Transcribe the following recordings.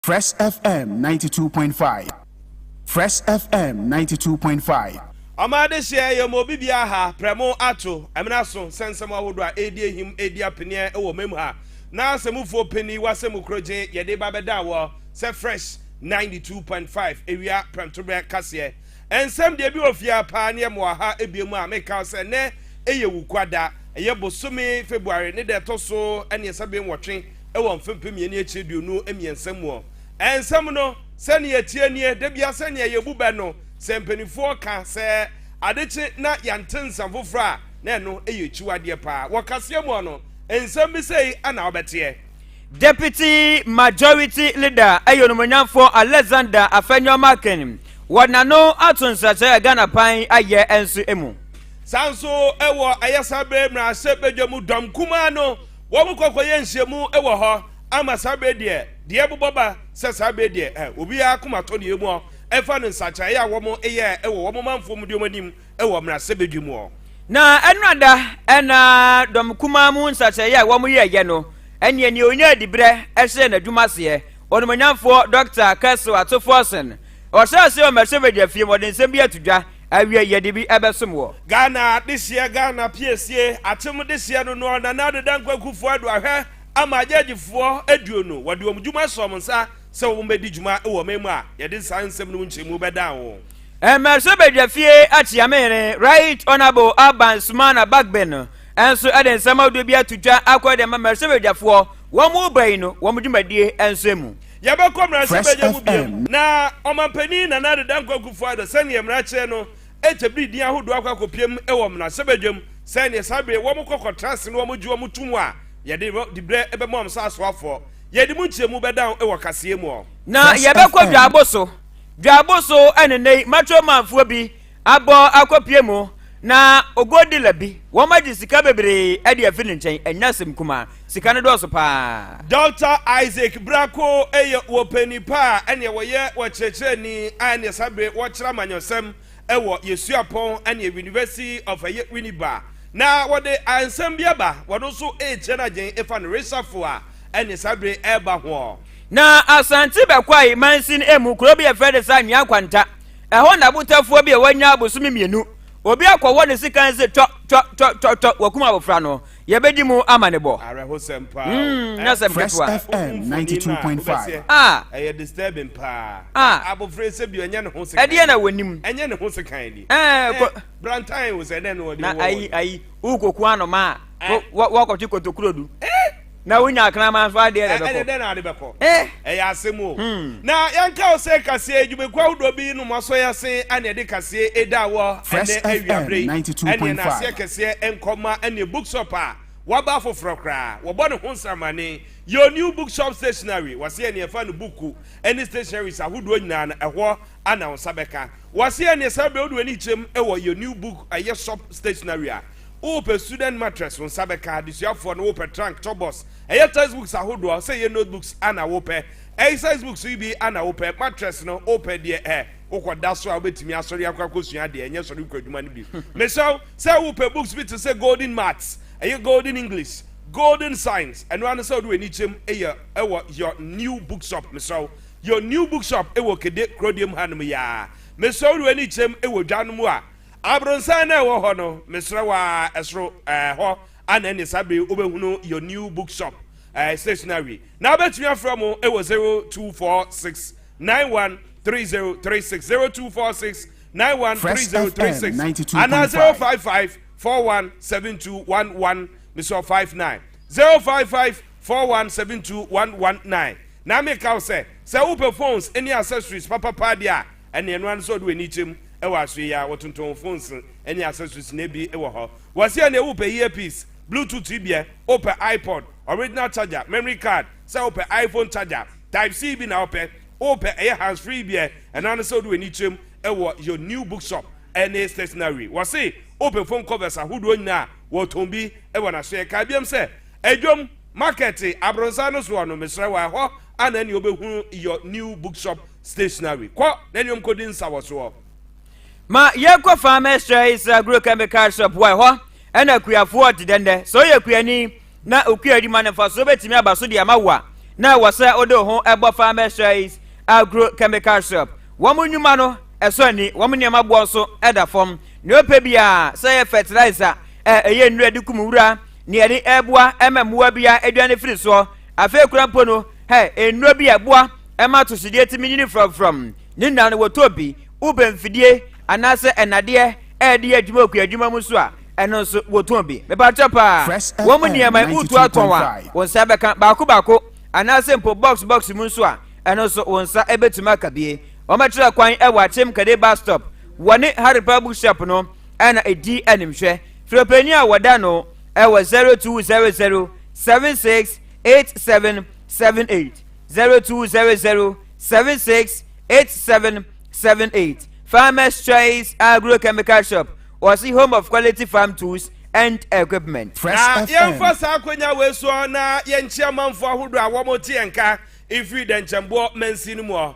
Fresh FM ninety two point five Fresh FM ninety two point five. Ɔma adehyeɛ yɛ ma obi biara ha, prɛmo, ato, amena so, sɛ nsɛm ahodoɔ a ɛredi ahim, ɛredi apeneɛ wɔ ɔma mu ha. Na asɛmufoɔ peni wɔ asɛmu korɔ gyen yɛde reba bɛda wɔ sɛ Fresh ninety two point five awia prɛmtoberɛ kaseɛ. Nsɛm deɛ ebi wɔ fie ha paa ne yɛ mowɔ ha ebie mu a meka wo sɛ nnɛ ɛyɛ Wukuada, ɛyɛ bosome February ne da ɛtɔ so aneɛsa bem wɔtwe, wɔ mfe mpem mmienu ne akyire aduonu mmiɛnsa mu ɔ nsɛm no sɛnea ɛteɛ nie da bia sɛnea yɛbu bɛ no sɛ mpanimfoɔ ka sɛ ade kye na yɛnte nsɛm foforɔ a na ɛno yɛ akyiwadeɛ paa wɔ kaseɛ mu ɔ no nsɛm bi sɛi na wobɛteɛ Deputy Majority Leader ɛyɛ onumonyamfoɔ Alexander Afenyo Markin wɔ n'ano ato nsrasɛe a Ghana pan ayɛ nso mu. Saa nso wɔ ayɛsa bere mmarahyɛ badwa mu dɔm kumaa no Wɔn kɔkɔ yɛ nhyiamu wɔ hɔ ama saa bɛ deɛ deɛ bobɔ ba sɛ saa bɛ deɛ ɛ obiara akoma tɔ deɛ mu ɔ ɛfa no nsakyeraeɛ a wɔn yɛ wɔ wɔn manfoɔ mu deɛ wɔn anim wɔ mmerasɛ bɛdwe mu ɔ. Na ɛno ada ɛ na dɔm kumaa mu nsakyeraeɛ a wɔn yɛ yɛ no ɛneɛ neɛ ɔnyaa diberɛ hyɛɛ n'adwuma aseɛ ɔnimonyamfoɔ Dɔkta Kessel Atufforson ɔhyɛɛ aseɛ wɔ Mercevedia fie mu ɔde nsɛm bi ato dwa Awiei yɛde bi ɛbɛsom wɔ. Ghana dehyeɛ Ghana piesie akyem dehyeɛ no noɔ Nana Addo Dankwa Kufuor Addo ahwɛ ama gyɛɛgyifoɔ aduonu wɔde wɔn dwuma ahyɛ wɔn nsa sɛ wɔn bɛdi dwuma wɔ ɔman mu a yɛde saa nsɛm no mu nkyerɛmu bɛdan wɔn. Mmarahyɛ Badwa fie akyea me hene Right Honourable Alban Sumana Bagbin no nso de nsɛm ahodoɔ bi ato dwa akɔ de ama mmarahyɛ badwafoɔ wɔn reba yi no wɔn dwumadie nso mu. Yɛbɛkɔ mmarahyɛbadwa mu bia mu. Na Ɔmanpanin Nana Addo Dankwa Akufo-Addo sɛdeɛ mmara kyerɛ no ɛtɛ bere din ahodoɔ akɔ akɔpia mu wɔ mmarahyɛbadwa mu sɛ neɛ saa bere wɔn kɔ kɔ tra ase na wɔn gye wɔn to mu a yɛde dibrɛ bɛma wɔn sɛ asoafoɔ. Yɛde mu nkyerɛmu bɛda ho wɔ kaseɛ mu ɔ. Na yɛbɛkɔ Dwaabo so. Dwaabo so ɛne nnɛ yi Matro Manfoɔ bi abɔ akɔpie mu na ɔgo dealer bi wɔn agye sika bebree ɛde afi ne nkyɛn ɛnyɛ asɛm kumaa sika no dɔɔso paa. Doctor Isaac Brako yɛ wɔpɛni pa a ɛneɛ wɔyɛ wɔkyerɛkyerɛni a ɛneɛ saa bere wɔkyerɛ amanyɔsɛm ɛwɔ Yesuapɔn ɛneɛ University of ɛyɛ Winneba na wɔde ansɛm bi aba wɔno nso ɛrekyerɛ no agyen ɛfa no resafo a ɛneɛ saa bere ɛreba hoɔ. Na Asante Bɛkwae mansin ɛmu kuro bi yɛfrɛ ne sɛ Anwea Kwanta Ɛhɔ na abotafoɔ bi a wanya abosome mmienu, obi akɔwɔ ne sekan se tɔ tɔ tɔ tɔ tɔ wakum abofra no. Yɛbɛdi mu amanebɔ. Mm, na sɛm Fresh ketewa. FM 92.5. Ah, ɛyɛ disturbing paa. Ah. Na abofra yi sɛ bi ɔnyɛ ne ho sekan. Ɛdeɛ na wɔnim. Ɛnyɛ ne ho sekan ni. Ɛɛ, kɔ- Eh, brantan wo sɛ dɛn na wɔde Na wɔ ayi wɔn. ayi, wokɔku anoma a, wo- wo- woakɔte kotokuro du. na wonya akraman nso adeɛ na ɛbɛkɔ ɛne dɛ na ade bɛkɔ eh. ɛyɛ asɛm o hmm. na yɛnka wo sɛ kaseɛ adwumakuo ahodoɔ bi nom asɔ yɛ se ɛne ɛde kaseɛ ɛda wɔ ɛnɛ awiaberɛ yi ɛneɛ na aseɛ kɛseɛ nkɔma ɛneɛ bookshop a waba foforɔ koraa wɔbɔ ne ho nsamane your new bookshop stationery wɔse ɛneɛ fa no buku ɛne stationaries ahodoɔ nyinaa no ɛhɔ ana wo nsa bɛka wɔse ɛneɛ saa berɛ wode w'ani kyerɛm ɛwɔ your new book ɛyɛ shop stationery a Wopɛ Sudan mattress wo nsa bɛka Adesuafoɔ no wopɛ trunk tɔ bus Ɛyɛ text books ahodoɔ a Sɛ yɛ note books ana wopɛ Ɛy size books yi bi ana wopɛ Mattress no wopɛ deɛ ɛ wokɔ da so a wobɛtumi asɔre akɔ akɔsua adeɛ Ɛnyɛ sɔre kɔ adwuma no bi Mesrɛ wo sɛ wopɛ books bi te sɛ Golden Maths Ɛyɛ Golden English Golden Science Ɛno ara ne sɛ wode w'ani kyɛm yɛ wɔ Your New Bookshop Mesrɛ wo Your New Bookshop wɔ Kede Kurodie mu hanom yi ara Mesrɛ wo de w'ani kyɛm wɔ dwa no mu a Abronsan na ɛwɔ hɔ no mesrɛ wo aa ɛsoro ɛɛ hɔ a na ɛne saa bere yi wobɛhunu your new book shop ɛɛ stationary na wobɛtumi afrɛ mo ɛwɔ 0246913036 0246913036 anaa 0554172119 mesɛ 59 0554172119 na meka wo sɛ sɛ wopɛ phones ne accessories papapaa deɛ a Ɛnneɛ ɛno ara ne sɛ ɔde w'ani kyerɛ mu wɔ asoɛ yi ara, wɔtontɔn wo phones ne accessories nnɛ bi wɔ hɔ. Wɔse ɛnneɛ wopɛ earpiece, bluetooth tweebiɛ, wopɛ iPod, original charger, memory card, sɛ wopɛ iPhone charger, type C bi na wopɛ, wopɛ ɛyɛ hands free biɛ, ɛno ara ne sɛ wode w'ani kyerɛ mu wɔ Your New Bookshop ne Stationery. Wɔse wopɛ phone covers ahodoɔ nyinaa a, wɔtɔn bi wɔ n'asoɛ. Kae biom sɛ, Adwom Market, Abronsan no soɔ no, mesrɛ wo a, ɛhɔ ara na ɛnneɛ wobɛhunu Your New Bookshop. Stationary. Kɔ na ɛne wɔn kɔdi nsawɔsoɔ. Ma yɛnkɔ fa mɛsrɛ Isra Agro Chemical Shop wɔ ɛhɔ ɛna kuafoɔ te dɛn dɛ. Sɛ woyɛ kuani na okua adwuma no mfasoɔ bɛtumi aba so de ama wo a, na ɛwɔ sɛ wode wo ho bɔ fa mɛsrɛ Agro Chemical Shop. Wɔn nnwuma no ɛsɔ ani, wɔn nneɛma boɔ nso ɛda fam. Nea ɔpɛ biara, sɛ ɛyɛ fertilizer a ɛyɛ nnuro ɛde kum wura, nea ɛde ɛboa ɛma mmoa biara aduane firi soɔ, afei kora mpo no hɛ nnuro bi a ɛboa ɛma atosodeɛ tumi nyini framfram ne nna no wɔtɔ bi wobɛ mfidie anaasɛ ɛnadeɛ ɛde yɛ adwuma okuo adwuma mu nso a ɛno nso wɔtɔn bi mepakyɛ paa wɔn mu nneɛma wotu atɔn a wɔn nsa bɛka baako baako anaasɛ mpo box box mu nso a ɛno nso wɔn nsa ɛbɛtumi aka bie wɔmɛkyerɛ kwan ɛwɔ akyem kade bus stop wɔne haripa bookshop no ɛna ɛdi animhwɛ firopani a wɔda no ɛwɔ 0200 76 8778 zero two zero zero seven six eight seven seven eight farmers choice agrochemical shop wɔsi home of quality farm tools and equipment. na yɛmfa saa akwanya wei soɔ na yɛnkyea manfoɔ ahodoɔ a wɔte yɛn ka ɛfiri dɛnkyɛmboɔ mansin mu hɔ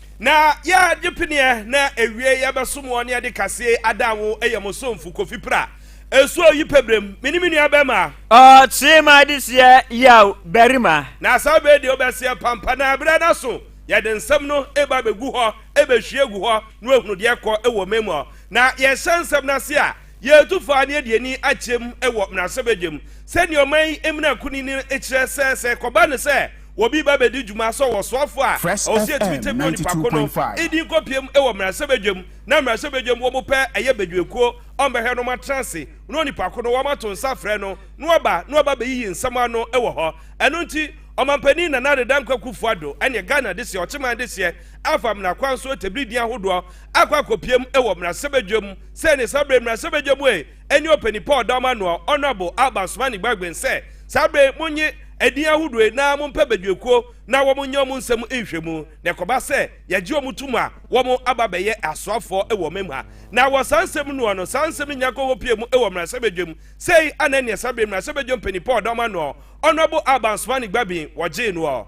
Na yɛ gye peneɛ na ewie yɛ bɛ som wɔ ne yɛ de kaseɛ adan wo yɛ mo somfo kofi pra esu oyi pɛ brem me ne me nua bɛma. Ɔɔ tee ma de seɛ yaw barima. Na saa bɛ deɛ ɔbɛ seɛ pampa na berɛ no aso yɛ de nsɛm no eba bɛ gu hɔ bɛ hwie gu hɔ no ahunu deɛ kɔ wɔ mɛ mu ɔ na yɛ hyɛ nsɛm no ase a Yetu faa ne aduani akyɛ mu wɔ mmarahyɛbadwam sɛnea ɔman yi mmara kunini no kyerɛ sɛ sɛ ɛkɔba no sɛ obi ba bedi dwuma sɛ ɔsoafo a, Fresh ɔwɔ sɛ yetumi FM tɛmia onipa ko no 92.5. din kɔpiam wɔ mmarahyɛbadwam na mmarahyɛbadwam wɔn pɛ ɛyɛ badwuakuo ɔmbɛhwɛ no wɔatena ase na onipa ko no wɔato nsa afrɛ no na waba na waba abeyiyi nsɛm ano wɔ hɔ. Ɛno nti Ɔmampanin Nana Addo Dankwa Kuffo Addo ne Ghana Dehyeɛ Ɔkyeman Dehyeɛ afa mmara kwan so atabiri din ahodoɔ akɔ akɔpiam wɔ mmarahyɛbadwam Sɛ ne saa bere mmarahyɛbadwa mu ɛ ɛne ɔpani Paul Dawma Noah Honourable Alban Somani Gbargben sɛ saa bere monye ɛdin ahodoɔ yi na mompɛ badwakuo na wɔn nyɛ wɔn nsɛm nhwɛmu na ɛkɔba sɛ yɛgye wɔn tom a wɔn aba abɛyɛ asoafoɔ wɔ ɔman mu ha na wɔ saa nsɛm noɔ no saa nsɛm no nya kɔhɔ pie mu wɔ mmarahyɛbadwa mu sei ana neɛ saa bere mmarahyɛbadwa mpani Paul Dawma Noah Honourable Alban Somani Gbargben wɔgyee noɔ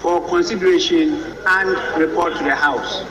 For consideration and report to the House.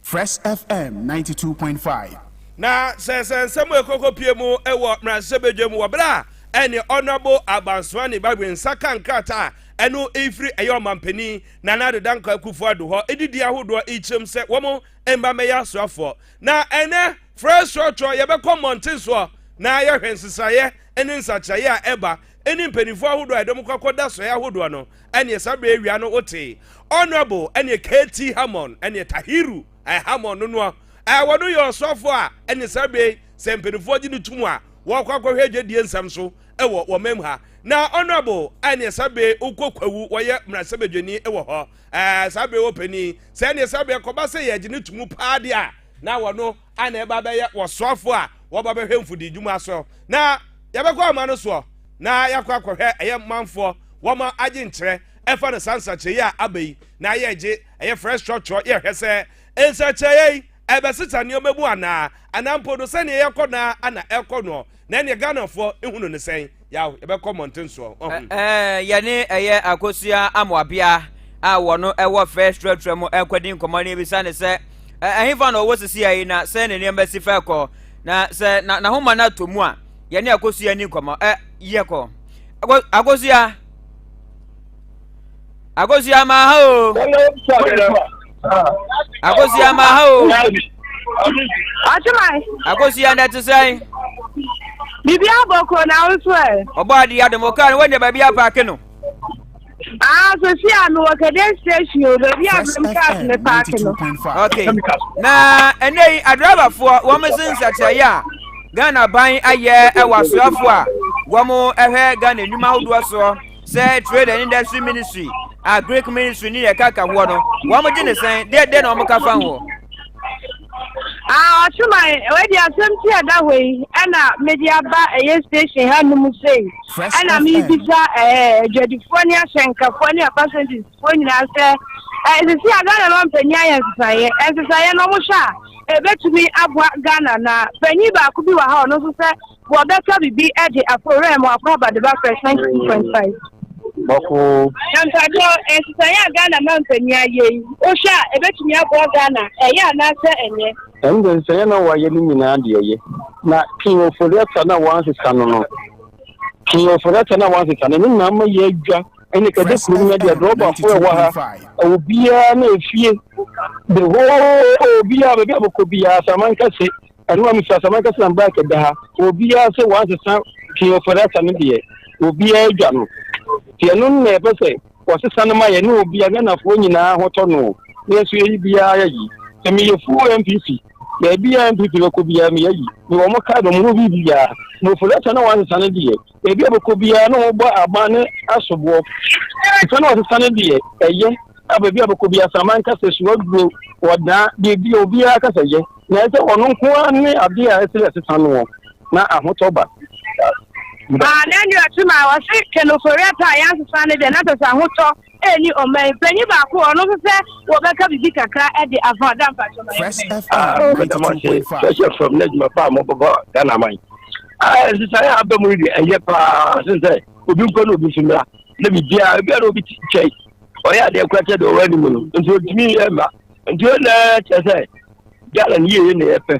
Fresh FM ninety two point five. Na sɛ sɛ nsɛm a ɛkɔkɔ pie mu wɔ mmarahyɛ badwa mu wɔ berɛ a ɛne Honourable Abansoani Bagbe nsa ka nkrataa a ɛno ɛrefiri ɛyɛ ɔmampanin Nana Addo Dankwa Akufo-Addo hɔ de di ahodoɔ rekyerɛm sɛ wɔn mma mmɛyɛ asoafoɔ. Na ɛnnɛ Fresh Trɔtrɔ yɛbɛkɔ mmɔnten soɔ na yɛhwɛ nsesaeɛ ne nsakyeraeɛ a ɛba ne mpanyimfo ahodoɔ a ɛdɔm kɔ akɔda sɔe ahodoɔ no ɛneɛ saa berɛ awia no wotee Honourable ɛneɛ KT Hammond ɛneɛ Tahiru ɛɛ Hammond no noa ɛɛ wɔno yɛ ɔsɔfoɔ a ɛneɛ saa berɛ sɛ mpanyimfoɔ gye no tom a wɔkɔ akɔhwɛ adwadie nsɛm so ɛwɔ wɔ mam ha na Honourable ɛneɛ saa berɛ wokɔ kwawu wɔyɛ mmarahyɛbadwani ɛwɔ hɔ ɛɛ saa berɛ wɔ panin sɛ ɛneɛ saa berɛ kɔba sɛ yɛgye no tom paa deɛ a na wɔno a na ɛba bɛyɛ wɔsoafo a wɔba bɛhwɛ mfodidwuma so, na yɛbɛkɔ ama no soɔ na yɛakɔ akɔhwɛ ɛyɛ manfoɔ wɔma agye nkyerɛ ɛfa no saa nsakyerɛyi a aba yi na yɛgye ɛyɛ fresh structure yɛhwɛ sɛ nsakyerɛyɛ yi ɛbɛsesa nneɛma mu anaa anaa mpo no sɛdeɛ yɛkɔ na ana ɛkɔ no na ɛneɛ ghanafoɔ ehu no ne sɛn yaw yɛbɛkɔ mmɔnten soɔ ɔho. ɛɛ yɛne ɛyɛ akosua amoabea a wɔn no ɛwɔ fɛ trɛtrɛ mu ɛkɔdi nkɔmɔ ne ebisa ne sɛ ɛhefa na ɔwɔ sisi ayi na sɛ ne nneɛma si fɛ kɔ na sɛ na n'ahoma no atɔ mu a yɛne akosua ni nkɔmɔ ɛ yɛ kɔ akosua. akosua ma ha o akosua ma ha o ɔtemae akosua na ɛte sɛn biribi abɔ kuro na wo so ɛ ɔbɔ ade adom ɔkaa no woanya baabi apaake no Ah, so si a mewɔ kɛdɛ station o baabi a mem cars me paake no okay na ɛnɛ yi adriverfoɔ wɔn se nsɛkyerɛeɛ a ghana ban ayɛ ɛwɔ asoafoɔ a wɔn ɛhwɛ ghana nnwuma ahodoɔ soɔ Sɛ trade and industry ministry a greek ministry ne yɛ kaka hoɔ no wɔn gye ne sɛn deɛ deɛ na wɔn ka fa hoɔ. ɔsoman wadi asɛm ti ɛda hɔ yi ɛna mede aba ɛyɛ station ha nom sei ɛna mebisa adwadifoɔ ne ahyɛnkafoɔ ne apasɛntisfoɔ nyinaa sɛ ɛsisi a ghana ma mpanyin ayɛ nsesaeɛ nsesaeɛ na wɔhwɛ a ɛbɛtumi aboa ghana na panyin baako bi wɔ ha ɔno nso sɛ Wɔbɛtɔ biribi de akɔ wura mu akɔ abadaba fɛ 22.5. Bɔko. Na mpakyɛw nsesaeɛ a Ghana manpanyin ayɛ yi wohwɛ a ɛbɛtumi aboa Ghana ɛyɛ anaasɛ ɛnyɛ? Ɛnde nsɛeɛ na wɔayɛ no nyinaa deɛ ɛyɛ na King Ofori-Atta no a wɔansesa no no King Ofori-Atta no a wɔansesa no no na ama yɛadwa ɛne kɛde kurom no deɛ drɔbafoɔ ɛwɔ ha obiara na efie the whole obiara baabi a bɛkɔ biara Saman kɛse ɛno a mesɛ asɛm ankasa na mbaa kɛda ha obiara sɛ wɔasesa king of rasa no deɛ obiara dwa no nti ɛno na ɛpɛ sɛ wɔsesa no ma yɛ ne obiara ghanafoɔ nyinaa ho tɔ no nanso yɛyi biara yɛyi sɛ meyɛ fuo mpp baabi a mpp bɛkɔ biara meyɛyi mewɔ mo kae no mo ho biribiara na ofurasa na wɔasesa no deɛ Baabi a wɔbɛkɔ biara na wɔbɔ aban ne asoboɔ. Nsa na wɔsesa no deɛ ɛyɛ a baabi a wɔbɛkɔ biara Asaman ka sɛ sua duro, wɔdaa, biribi obiara ka sɛ yɛ. Na ɛsɛ ɔno nko ara ne adeɛ a ɛsɛ yɛsesa noɔ na ahotɔ ba. Aa na ɛne ɔte maa wɔse kɛnofori ɛpɛ a yɛansesa no deɛ na sɛ sɛ ahotɔ Ɛni ɔman panyin baako ɔno nso sɛ wɔbɛka biribi kakra de afa ɔda mpakyɛ ma Fresh FM ninety two point five. Fresh FM ne adwuma pa a mo bɛbɔ Ghana man. Nsesaeɛ a aba mu no deɛ ɛyɛ paa sen sɛ obi nkɔ na obi nso mmra na biribiara ebi a na obi kyɛn ɔyɛ adeɛ kora kyɛ deɛ ɔwɔ anim no nti otumi yɛ mma nti ɛna kyerɛ sɛ Ghana no yie na yɛpɛ.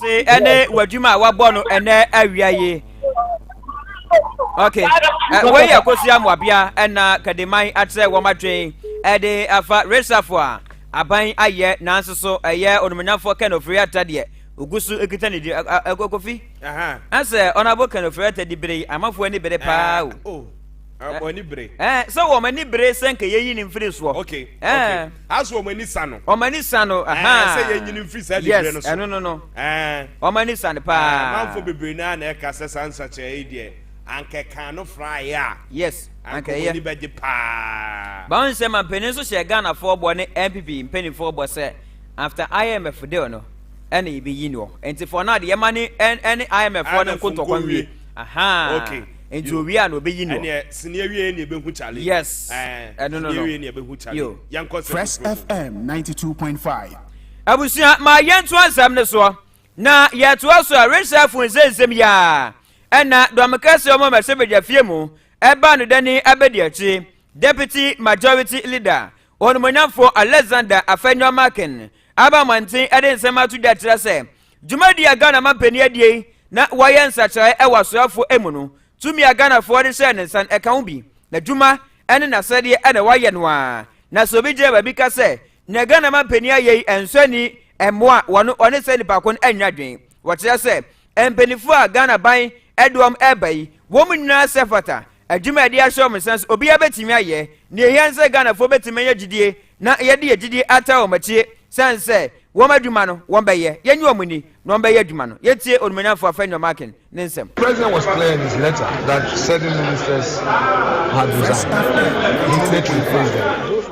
se ɛne w'adwuma a wabɔ no ɛnɛ awia yi ok wei yɛ kosua mmoabea ɛna kadiman akyerɛ wɔn adwen ɛde afa resafo a aban ayɛ nanso so ɛyɛ onomonyafo ken ofiri ata deɛ ogu so ekita ne di ɛkɔkɔfi ɛsɛ ɔnabo ken ofiri ata di bere yi amafoɔ ani bere paa o. Ah, wɔn ani bere. Ɛɛ, sɛ wɔn ani bere sɛ nka yɛyi ne mfiri soɔ. Okay, okay. Aso wɔn ani sa no. Wɔn ani sa no. Ɛɛ, sɛ yɛnyi ne mfiri saa nibire no so. Yes, ɛno no no. Ɛɛ. Wɔn ani sa no paa. Manfo bebree naa na ɛka sɛ saa nsakyerɛ yi deɛ anka ɛka no fraeɛ a. Yes, anka ɛyɛ. Anka wɔn ani bɛgye paa. Bawon sɛ mampanin nso hyɛ Ghanafoɔ bɔ ne NPP mpanimfoɔ bɔ sɛ after IMF deal no ɛna yɛbɛyi no. Nti for now de yɛma ne ɛne IMF foɔ no nkotɔkɔ nwie. Aha. Okay. nti owie a na obeyi no. ɛnneɛ sini awie yɛ na ebehu challenge. yes ɛɛ no no no awie na ebehu challenge. yɛn kɔ sɛ fresh fm ninety two point five. abusua ma yɛn to asɛm no soɔ na yɛtoa so a richard fun sɛ nsɛm yi a ɛna dɔmkɛseɛ ɔmo mɛsɛ bɛgya fie mu ɛbaa no dani abɛdi akyi deputy majority leader onumonyamfoɔ alexander afɛnyɔ makin aba mmɔnten ɛde nsɛm ato dwa kyerɛ sɛ Dwumadi a Ghana mampanin adie yi na wɔayɛ nsakyeraeɛ wɔ asraafoɔ mu no, tumi a Ghanafoɔ de hyɛɛ ne nsa no ɛka ho bi. N'adwuma ne n'asɛdeɛ na wɔayɛ no ara. Na sɛ obi gyina baabi ka sɛ nea Ghana mampanin ayɛ yi nsɔ ani mmoa a, wɔno wɔne saa nipa ko no nnya adwene. Wɔkyerɛ sɛ mpaninfoɔ a Ghana ban de wɔn reba yi, wɔn nyinaa sɛ fata Adwuma a ɛde ahyɛ wɔn nsa nso, obiara betumi ayɛ. Nea ehia ne sɛ Ghanafoɔ betumi anya gyidie na yɛde yɛn gyidie ataa wɔn akyire sane sɛ wɔn adwuma no, wɔbɛyɛ. Yɛnye wɔn nni na wɔbɛyɛ adwuma no. Yɛntie Onimuonyamfoɔ Afenyo Markin ne nsɛm. President was clear in his letter that certain ministers had resigned. He needed to replace them.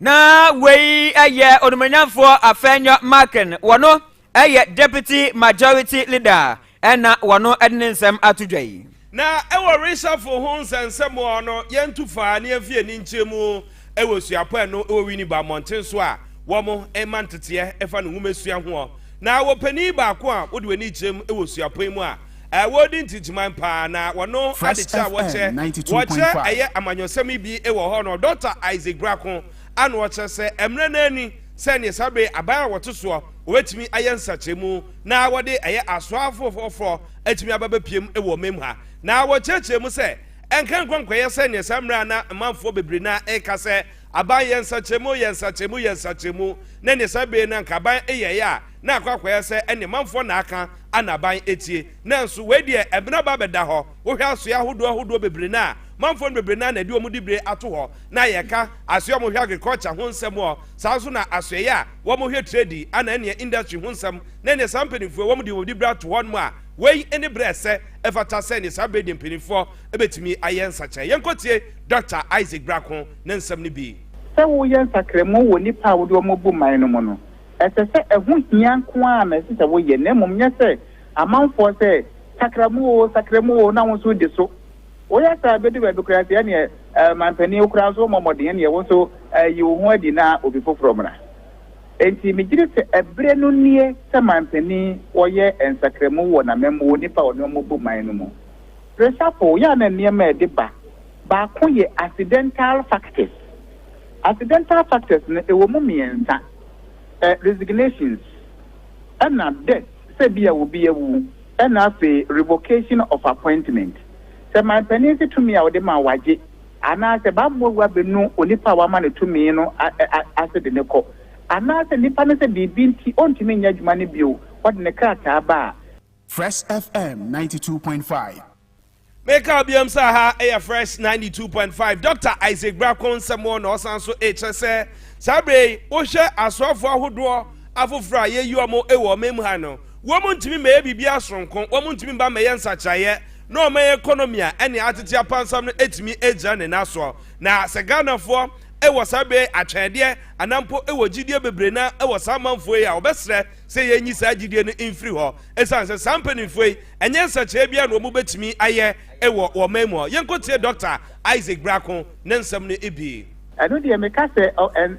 Na wei yɛ onumonyamfoɔ Afenyo Markin, wɔno yɛ Deputy Majority Leader na wɔno de ne nsɛm ato dwa yi. Na wɔ reshuffle ho nsɛnsɛm hɔ no, yɛntu faa ne yɛnfi ani nkyerɛ mu wɔ suapɔ ɛno wɔ Winneba mmɔnten so a wɔn ma nteteɛ fa ne nwomasua hoɔ. Na wɔ panin baako a wode w'ani kyerɛ mu wɔ suapɔ yi mu a, a wɔredi ntigyeman paa na wɔno adekyɛ a wɔkyɛ wɔkyɛ ɛyɛ amanyɔsɛm yi bi wɔ hɔ no Dɔkta Isaac Brako ano ɔkyerɛ sɛ mmerɛ no ani sɛ neɛ saa bere aban a wɔte soɔ wɔbɛtumi ayɛ nsakyerɛmu na wɔde ɛyɛ asoafo foforɔ atumi aba bɛpiem wɔ mem ha na wɔkyerɛkyerɛ mu sɛ ɛnka nkɔ nkɔyɛ sɛ neɛ saa mmerɛ a na manfoɔ bebree na ɛka sɛ aban yɛ nsakyerɛmu yɛ nsakyerɛmu yɛ nsakyerɛmu na neɛ saa bere no anka aban yɛeɛ a na akɔ akɔyɛ sɛ ɛne manfoɔ na aka a n'aban tie. Nanso wei deɛ ɛbena aba abɛda hɔ. Wohwɛ asoeɛ ahodoɔ ahodoɔ bebree no a, manfoɔ no bebree no ara na ɛde wɔn diberɛ ato hɔ. Na yɛka asoeɛ a wɔhwɛ agriculture ho nsɛm ɔ, saa nso na asoɛeɛ a wɔhwɛ trade anaa ɛneɛ industry ho nsɛm na ɛneɛ saa mpaninfoɔ yi wɔde wɔn diberɛ ato hɔnom a wei ne berɛ a ɛsɛ ɛfata sɛ ɛneɛ saa berɛ yi deɛ mpaninfoɔ bɛtumi ayɛ nsakyeraɛ. Yɛnkɔtie Dɔkta Isaac Brako ne nsɛm no bi. Sɛ woyɛ nsakramu wɔ nnipa a wode wɔn abu man no mu no, Ɛsɛ sɛ ɛho hia nko ara na ɛsɛ sɛ woyɛ, na mmom nyɛ sɛ amanfoɔ sɛ, Sakra mu oo, sakra mu oo, na wo nso wodi so. Woyɛ saa a, ɛbɛdu baabi koraa sɛ ɛnneɛ ɔmampanin wo koraa nso wommɔ mmɔden ɛnneɛ wo nso yi wo ho adi na obi foforɔ mmra. Enti megyedi sɛ ɛberɛ no nie sɛ mampanin wɔyɛ nsakramu wɔ n'amammuo nnipa a ɔne wɔn bɔ man no mu. Resafo, yɛ a na nneɛma a ɛde ba baako yɛ accidental factors Accidental factors no ɛwɔ mu mmiɛnsa, ɛ, resignations, ɛna death, sɛ ebia obi awu, ɛna afei revocation of appointment. Sɛ manpanin se tumi a ɔde ma wo agye anaasɛ bammɔ wu abɛnu onipa a wama no tumi no a, ɛ, a, ase de no kɔ, anaasɛ nipa no sɛ biribi nti ɔntumi nyɛ adwuma no bio, wɔde ne krataa ba a. Fresh FM ninety two point five. Meka biom sɛ ha yɛ Fresh 92.5 Dɔkta Isaac Brako nsɛm wɔ na ɔsan so rekyerɛ sɛ saa berɛ yi wohwɛ asoafoɔ ahodoɔ afoforɔ a yɛyi wɔn wɔ ɔman mu ha no wɔn ntumi mmɛyɛ biribiara soronko wɔn ntumi mma mmɛyɛ nsakyeraeɛ na ɔman economy a ɛne atete apansam no atumi agyina ne nan soɔ na sɛ Ghanafoɔ wɔ saa berɛ yi atwɛndeɛ anaa mpo wɔ gyidie bebree na wɔ saa amanfoɔ yi a wɔbɛsrɛ sɛ yɛnyi saa gyidie no mfiri hɔ ɛsiane sɛ saa mpanimfoɔ yi Ɛnyɛ nsɛnkyerɛɛ biara na wɔn bɛtumi ayɛ wɔ wɔn man mu. Yɛnkɔ tie Dɔkta Isaac Brako ne nsɛm no bi. Ɛno deɛ meka sɛ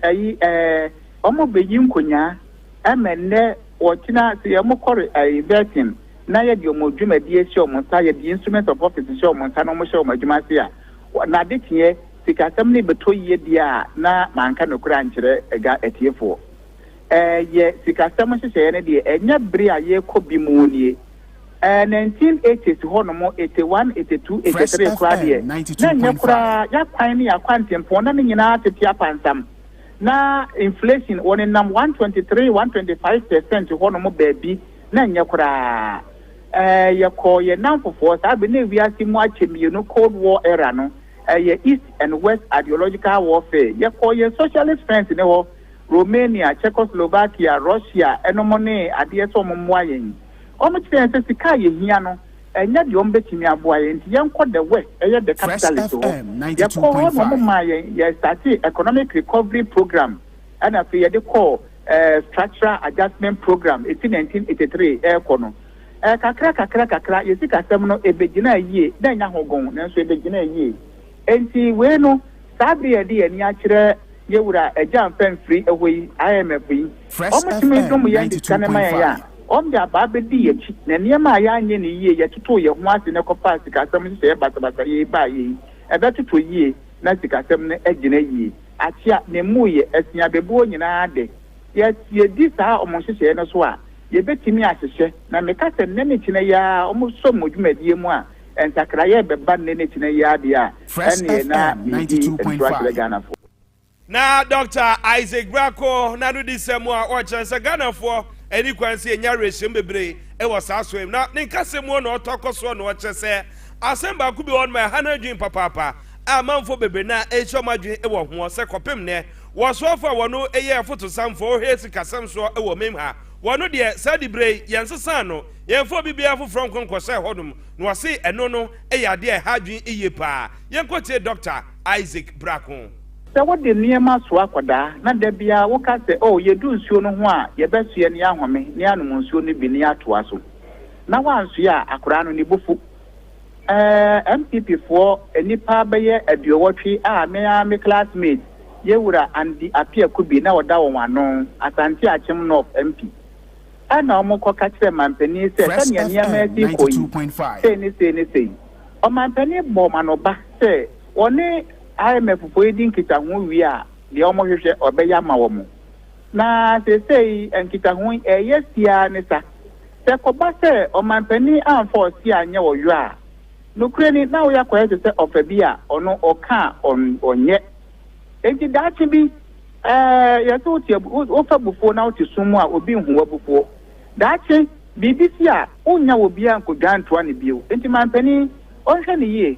ayi ɛɛ wɔn bɛyi nkonyaa ɛma nnɛ wɔtena sɛ yɛ wɔn kɔre ɛɛ vetting na yɛde wɔn dwumadie hyɛ wɔn nsa yɛde instruments of office hyɛ wɔn nsa na wɔn hyɛ wɔn adwuma ase a nade teɛ sikasɛm no bɛtɔ yie deɛ a na manka nokorɛ ankyerɛ ɛga atiefoɔ. Yɛ sikasɛm nhyehyɛeɛ no deɛ, ɛnyɛ bere a yɛrekɔ bi mu nie. Ɛɛ, 1980s hɔnom, 81, 82, 83 koraa deɛ, na ɛnyɛ koraa. Y'akwan ne y'akwantempɔn, na ne nyinaa tete apansam. Na inflation, wɔnenam 123, 125 percent hɔnom baabi, na ɛnyɛ koraa. Ɛɛ, yɛkɔɔ yɛn nnamfofoɔ saa bere no, na wiase mu akyɛ mmienu, Cold War era no, ɛyɛ East and West ideological warfare. Yɛkɔɔ yɛn socialist friends no hɔ, Romania, Czechoslovakia, Russia nom ne adeɛ sɛ wɔn mmoa yɛn. Wɔn kyerɛ yɛn sɛ sika a yɛhia no ɛnyɛ deɛ wɔn bɛtumi aboa yɛn nti yɛnkɔ the west ɛyɛ the capitalist hɔ. Yɛkɔɔ hɔ na wɔn maa yɛn yɛ startee economic recovery programme ɛna afei yɛde kɔɔ eh, structural adjustment programme ɛfiri 1983 ɛrekɔ no. Eh, kakra kakra kakra yɛ sikasɛm no ɛbɛgyinaa yie, na ɛnya hogon nanso ɛbɛgyinaa yie. Enti wei no, saa bere a yɛde yɛn ani akyerɛ yɛn Wura Agya Mfɛmfiri hɔ yi, IMF yi, Fresh wɔtumi FM dom yɛn de sika no ma yɛn a, 92.5. wɔde abaa bɛdii yɛn akyi, na nneɛma a yɛanyɛ no yie, yɛtotoo yɛn ho ase na ɛkɔfaa sikasɛm nhyehyɛeɛ basabasayɛ yi baeɛ yi, ɛbɛtotɔ yie na sikasɛm no agyina yie. Akyea, ne mmuiɛ, ɛsen abɛbuo nyinaa de, yɛ, yɛdi saa wɔn nhyehyɛeɛ no so a, yɛbɛtumi ahyehyɛ, na meka sɛ nnɛ ne kyena yi ara wɔsɔ mu dwumadie mu a, Nsakraeɛ bɛba nnɛ ne kyena yi ara deɛ a, ɛnneɛ na medi ntorɔ akyerɛ Ghanafoɔ. Na Dɔkta Isaac Brako n'anodisɛm a ɔkyerɛ sɛ Ghanafoɔ ɛni kwan sɛ yɛnya awerɛhyɛmu bebree wɔ saa soɛ mu. Na ne nkasɛm mu hɔ na ɔtɔ kɔ soɔ na ɔkyerɛ sɛ asɛm baako bi wɔ hɔ nom a ɛha no adwene papaapa a amanfoɔ bebree no ara nhyɛ wɔn adwene wɔ hoɔ sɛ kɔpem nnɛ wɔsoɔfoɔ a wɔn yɛ afotosamfoɔ, wɔhwɛ sikasɛm soɔ wɔ mem ha wɔn deɛ saa diberɛ yi yɛnsesa no Yɛmfa obi biara foforɔ nkɔ nkɔsɛe hɔnom, na ɔse ɛno no yɛ adeɛ a ɛha adwene yie paa. Yɛnkɔtie Dɔkta Isaac Brako. Sɛ wode nneɛma soa akwadaa na da biara woka sɛ, Oh, yɛdu nsuo no ho a, yɛbɛsoɛ na yɛahome na yɛanom nsuo no bi na yɛatoa so, na woansoɛ a, akwadaa no, ne bo fu. Ɛɛ, MPPfoɔ nnipa bɛyɛ aduɔwɔtwe a me ara me classmate, Yɛwura Andy Appiah Kubi, na ɔda wɔn ano, Asante Akyem North MP. Ɛnna wɔkɔka kyerɛɛ manpanin yi sɛ, Fresh Sɛnea FM nneɛma asi rekɔ yi, 92.5. sei ne sei ne sei. Ɔmanpanin bɔɔ wɔn anoba sɛ wɔne IMFfoɔ yi di nkitaho wie a, deɛ wɔhwehwɛ, ɔbɛyɛ ama wɔn. Na seesei nkitaho yi, ɛreyɛ siaa ne sa. Sɛ ɛkɔba sɛ ɔmanpanin amfa ɔse anyɛ ɔyɔ a, nokorɛ ni, na woyɛ akɔyɛ te sɛ ɔfa bi a ɔno ɔka a ɔn, ɔnyɛ. Enti daakye bi, ɛɛ, yɛse wote abu, wo, wofa abufuo na wote sum mu a, obi nhu w'abufuo. Daakye, biribi si a, wonnya obiara nkɔdwan ntoa no bio. Enti manpanin, ɔnhwɛ no yie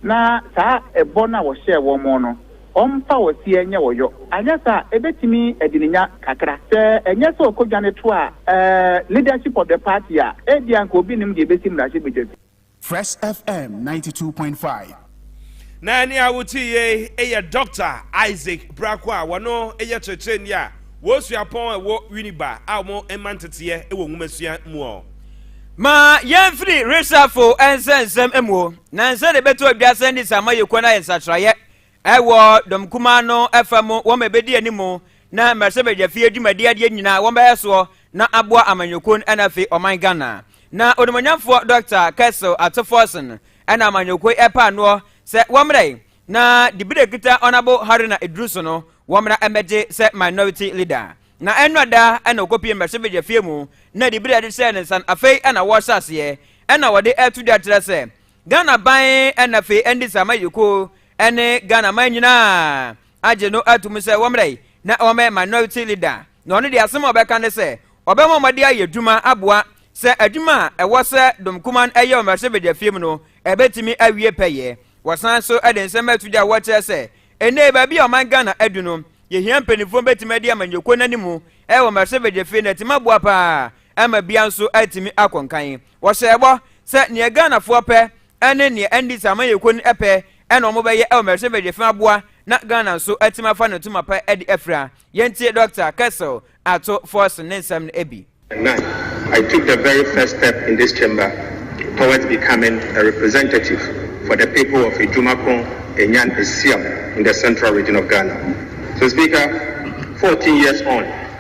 na saa ɛbɔ no a wɔhyɛɛ wɔn no, ɔmfa ɔseɛ nyɛ ɔyɔ. Anyɛ saa a, ɛbɛtumi adi no nya kakra. Sɛ ɛnyɛ sɛ ɔkɔdwane toaa, ɛɛ, leadership of the party a, ebia anka obi nnim deɛ ɛbɛsi mmarahyɛbadwa bi. Fresh FM ninety two point five. Na ɛne a wotie yei yɛ Dɔkta Isaac Brako a wɔno yɛ kyerɛkyerɛni a wɔsua pɔn a ɛwɔ Winneba a wɔn mma nteteɛ wɔ nwomasua mu ɔ. Ma yɛmfiri resafo nsɛnsɛm mu, na nsɛnneɛ ɛbɛto adwasɛ ne samayɛkuo no ayɛ nsakyeraeɛ Wɔ dɔm kumaa no fa mu, wɔn bɛdi anim na mmarahyɛbadwa fie dwumadi adeɛ nyinaa wɔn bɛyɛ soɔ na aboa amanyɔkuo no na afei ɔman Ghana. Na onimuonyamfoɔ Dɔkta Kessel Ato Forson na amanyɔkuo yi ɛpaa noɔ sɛ wɔmmra yi na dibire a ɛkita Honourable Haruna Iddrisu no wɔmmra mmɛgye sɛ Minority Leader. Na ɛnnora da na ɔkɔpie mmarahyɛbadwa fie mu na dibire a yɛde hyɛɛ ne nsa no afei na wɔrehyɛ aseɛ na wɔde ɛto dwa kyerɛ sɛ Ghana ban na afei ɛne Sama Yeko ne Ghana man nyinaa agye no atum sɛ wɔmmrɛ yi na wɔmmɛyɛ minority leader na ɔno deɛ asɛm a ɔbɛka ne sɛ ɔbɛma wɔde ayɛ adwuma aboa sɛ adwuma a ɛwɔ sɛ Dom Kuman yɛ wɔ mmarahyɛ badwafiam mu no ɛbɛtumi awie pɛyɛ. Wɔsan so de nsɛm ato gya a wɔkyerɛ sɛ ɛnnɛ baabi a ɔman Ghana adu no yɛhia mpanimfoɔ bɛtumi adi ama Nyeko no anim wɔ mmarahyɛ badwafie na atumi aboa paa ama bia nso atumi akɔ nkan. Wɔhyɛɛ bɔ sɛ nea Ghanafoɔ pɛ ne nea ɛnde sɛ amanyɛkuo no pɛ na wɔbɛyɛ wɔ Mercy Village fa aboa na Ghana nso atumi afa ne ntoma pa de afira. Yɛntie Dɔkta Kessel Ato Forson ne nsɛm no bi. And now, I took the very first step in this chamber towards becoming a representative for the people of Ejumakron, Enyan, Esiam in the Central Region of Ghana. So Speaker, fourteen years on,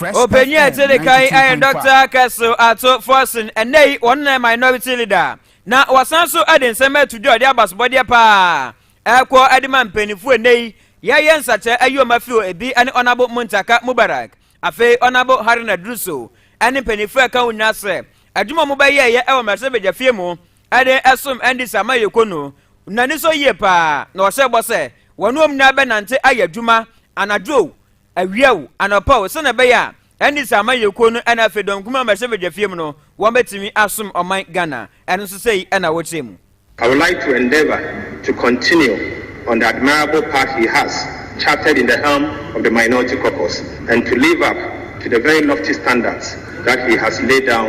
Ɔpanyin a ɛte de kan yɛ Dɔkta Kɛso Ato Forson, ɛnnɛ yi wɔn na minority leader, na wɔsan so de nsɛm ato dwa a ɔde abasobɔdeɛ paa ɛrekɔ de ma mpanimfoɔ ɛnnɛ yi yɛyɛ nsakyɛ ayi wɔn afiri hɔ ebi ne Ɔnabo Muntaka Mubarak afei Ɔnabo Haruna Duruso ne mpanimfoɔ ɛka ho nyinaa sɛ adwuma a wɔbɛyɛɛyɛ wɔ mmarahyɛbadwafie mu ɛde ɛsom ɛnde sama yɛ ko no n'ani sɔ yie paa na ɔhyɛ bɔ sɛ wɔn wɔn nyinaa bɛnante ayɛ adwuma anadwo o awia o anɔpa o sɛnɛ ɛbɛyɛ a ɛnde sama yɛ ko no ɛna afei dɔm kuma mɛhyɛ badwa fie mu no wɔn bɛtumi asom ɔman Ghana ɛno nso sɛ yi ɛna wɔkyerɛ mu. I would like to endeavour to continue on the admirable path he has charted in the helm of the Minority Caucus and to live up to the very lofty standards that he has laid down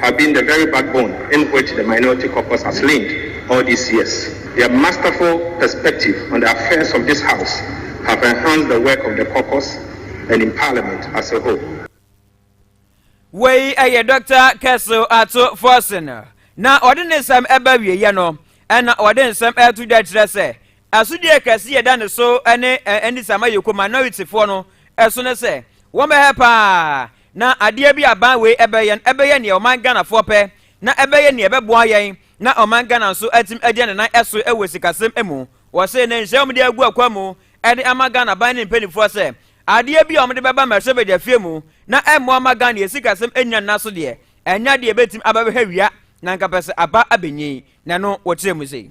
have been the very backbone in which the minority caucus has leaned all these years. Their masterful perspective on the affairs of this House have enhanced the work of the caucus and in Parliament as a whole. Wei ɛyɛ Dr. Kessel Ato Forson na ɔde ne nsɛm ɛba wieɛ no ɛna ɔde nsɛm ɛto dwa kyerɛ sɛ Asodi a kɛse yɛda ne so ne anisɔ a ama yɛkɔ minoritifoɔ no so ne sɛ wɔbɛhɛ pa ara na adeɛ bi a ban wei bɛyɛ no bɛyɛ nea ɔman Ghanafoɔ pɛ na ɛbɛyɛ nea ɛbɛboa yɛn na ɔman Ghana nso atumi agyina ne nan so wɔ sikasɛm mu. Wɔse ne nhyɛ a wɔde agu akwan mu de ama Ghana ban ne mpanimfoɔ sɛ adeɛ bi a wɔde bɛba mmarahyɛ badwafie mu na ɛmmoa mma Ghana yɛn sikasɛm nnyina ne nan so deɛ ɛnyɛ adeɛ a ɛbɛtumi abɛhwehwɛ wia na anka pɛ sɛ aba abɛnyin na ɛno wɔkyerɛ mu sei.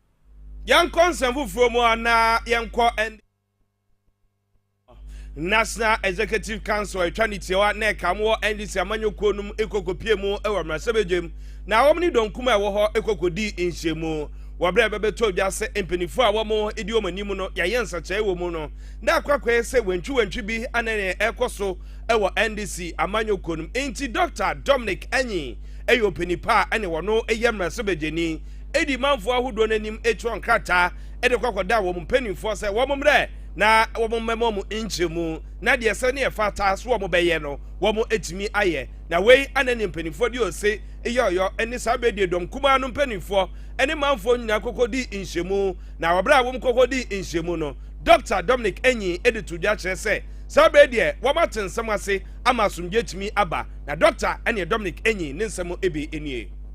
Yɛnkɔ nsɛm foforɔ mu a na yɛnkɔ ɛnde National Executive Council atwa ne tiawa na ɛka mo wɔ NDC amanyɔkuo no mu ɛkɔkɔpie mu wɔ mmarahyɛbadwam na wɔn ne dɔnkum a ɛwɔ hɔ ɛkɔkɔdii nhyiamu wɔ berɛ a ɛbɛbɛtɔ dwa sɛ mpanimfoɔ a wɔn di wɔn anim no yɛayɛ nsakyɛe wɔ mu no na akwakwɛɛ sɛ wantwiwantwi bi ana ne ɛkɔ so wɔ NDC amanyɔkuo no mu enti Dr. Dominic Anyi ɛyɛ ɔpanipa a ɛne wɔn yɛ mmarahyɛbadwani edi manfo ahodoɔ no anim twerɛ nkrataa de kɔ akɔda wɔn mpanimfoɔ sɛ wɔn mmrɛ na wɔn mmɛma wɔn nkyerɛmu na deɛ ɛsɛ ne ɛfata so wɔn bɛyɛ no wɔn atumi ayɛ na wei ana ne mpanimfoɔ de ose yɔyɔ ne saa bɛ die dɔm kumaa no mpanimfoɔ ne manfoɔ nyinaa kɔkɔ di nhyɛmu na wɔbrɛ a wɔn kɔkɔ di nhyɛmu no Dɔkta Dominic Anyi de to dwa kyerɛ sɛ saa bɛ deɛ wɔn ate nsɛm ase ama asomdwe atumi aba na Dɔkta ɛne Dominic Anyi ne nsɛm ebe nie.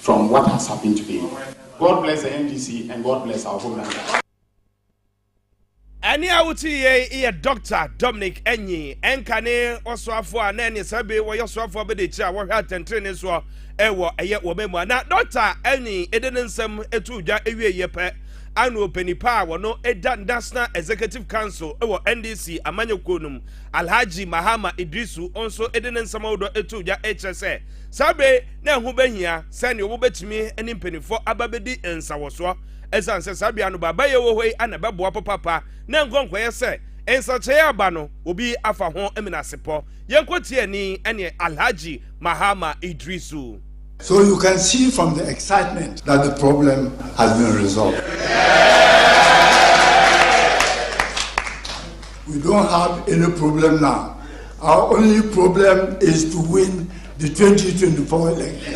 From what has happened today God bless the NDC and God bless our Homelander. Ɛnne a wote yei yɛ Dɔkta Dominic Anyi ɛnka ne ɔsoafoɔ a na ɛne saa bi wɔyɛ ɔsoafoɔ bɛde akyire a wɔhwɛ atɛntrenee soɔ ɛwɔ ɛyɛ wɔn mu a na Dɔkta Anyi ɛde ne nsɛm ɛtu dwa ɛwie yɛ pɛ ano ɔpanipa a wɔno ɛda National Executive Council ɛwɔ NDC amanyɔkuo no mu Alhaji Mahama Idrisu ɔnso ɛde ne nsɛm ahodoɔ ɛtu dwa ɛkyerɛ sɛ saa bɛ na ɛho bɛhia sɛ ne wobɛtumi ne mpanimfoɔ aba bɛdi nsawɔsoɔ ɛsiane sɛ saa bea no baabayɛ wɔ hɔ yi ana ɛbɛboa papaapa na nkɔnkɔyɛ sɛ nsakyɛeɛ aba no obi afa ho menasepɔ yɛnkɔ tie ni ɛne alhaji mahama idrisu So you can see from the excitement that the problem has been resolved. We don't have any problem now, our only problem is to win the 2024 election.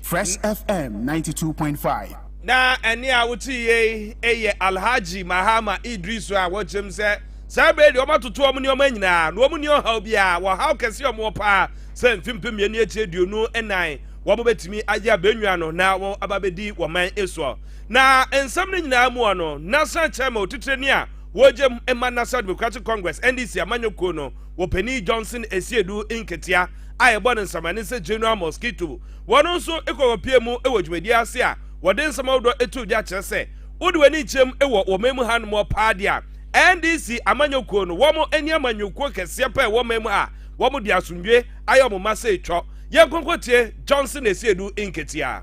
Fresh FM 92.5 na ɛne a wote yei yɛ alhaji mahama idris a wɔkyerɛm sɛ saa bere deɛ wɔatoto wɔn nneɛma nyinaa na wɔn nni ɔhaw biara wɔhaw kɛse a wɔwɔ paa sɛ mfempem mmienu akyi aduonu nan wɔn bɛtumi agye abɛnwa no na wɔn aba bɛdi wɔn man soɔ Na nsɛm no nyinaa mua no, National Chairman otitrani a wɔregye ma National Democratic Congress, NDC, amanyɔ kuo no, Wɔpanin Johnson Asiedu Nketia a yɛbɔ no nsɛmmanin sɛ General Mosquito, wɔno nso kɔkɔpiee mu wɔ dwumadie ase a wɔde nsɛm ahodoɔ too dwa kyerɛ sɛ wode w'ani kyerɛm wɔ wɔ man mu ha nom paa deɛ a NDC amanyɔ kuo no wɔn ani amanyɔ kuo kɛseɛ paa wɔ man mu ha wɔn de asomdwoe ayɛ wɔn ma sɛ twɔ yɛn kɔnkɔtie Johnson Asiedu Nketia.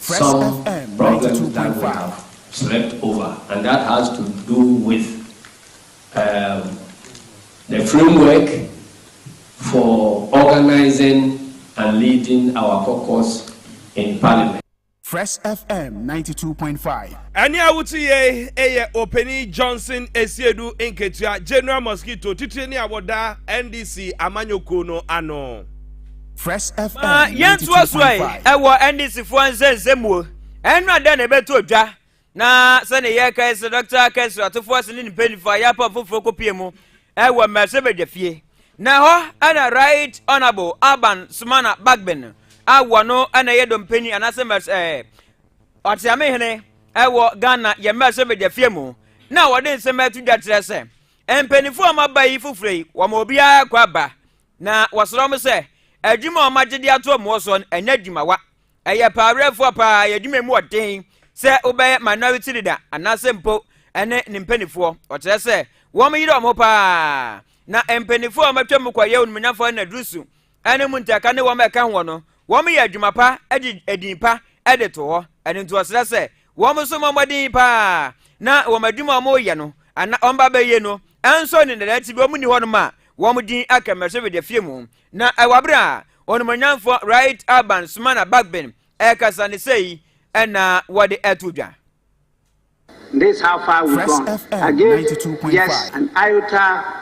Some problems that we have slept over and that has to do with um, the framework for organizing and leading our caucus in parliament. Fresh FM 92.5. Ɛne a wote yɛ ɛyɛ Openi Johnson Esiedu Nketua General Mosquito titire ne a wɔda NDC amanyɔkuo no ano. Fresh FM. Ma yɛntoa so ɛ ɛwɔ NDCfoɔ nsɛnsɛmuo ɛno adɛn na ɛbɛto odwa na sɛne yɛkae sɛ dɔkta kɛsrɛ atofoɔ ase ne ne mpanimfoɔ a yɛapa foforɔ kɔpie mu ɛwɔ mmɛsɛ badwa fie na hɔ ɛna right honorable alban sumana bagbin a wɔno ɛna ɛyɛ dɔmpani anaasɛ mmɛsɛ ɛɛ ɔteame hene ɛwɔ ghana yɛ mmɛsɛ badwa fie mu na wɔde nsɛm ɛto dwa kyerɛ sɛ mpanimfoɔ a wɔaba yi foforɔ yi wɔn obiara kɔ aba Na wɔsrɛ wɔn sɛ, adwuma a wɔagye de ato wɔn wɔ soɔ no, ɛnyɛ adwumawa. Ɛyɛ paawerɛfoɔ paa, ɛyɛ adwuma mu ɔden sɛ wobɛyɛ minority leader anaasɛ mpo ɛne ne mpanimfoɔ. Ɔkyerɛ sɛ wɔn yere wɔn ho paa. Na mpanimfoɔ a wɔatwa mu kɔyɛ onumonyamfoɔ ne dusu ɛne mu ntɛka ne wɔn ɛka hoɔ no, wɔyɛ adwuma pa de edin pa de to hɔ. Ɛno nti ɔsrɛ sɛ Wɔn nso mmɔ mmɔden paa na wɔn adwuma a wɔreyɛ no anaa wɔn ba bɛyɛ no nso ne nnɛdaa ti bi wɔn nni hɔnom a wɔn din aka mmarahyɛ badwa fie mu. Na ɛwɔ bere a onumonyamfoɔ Right Alban Sumana Bagbin ɛkasa ne sɛ yi ɛna wɔde ɛto dwa. This how far we gone against Jess and Iota.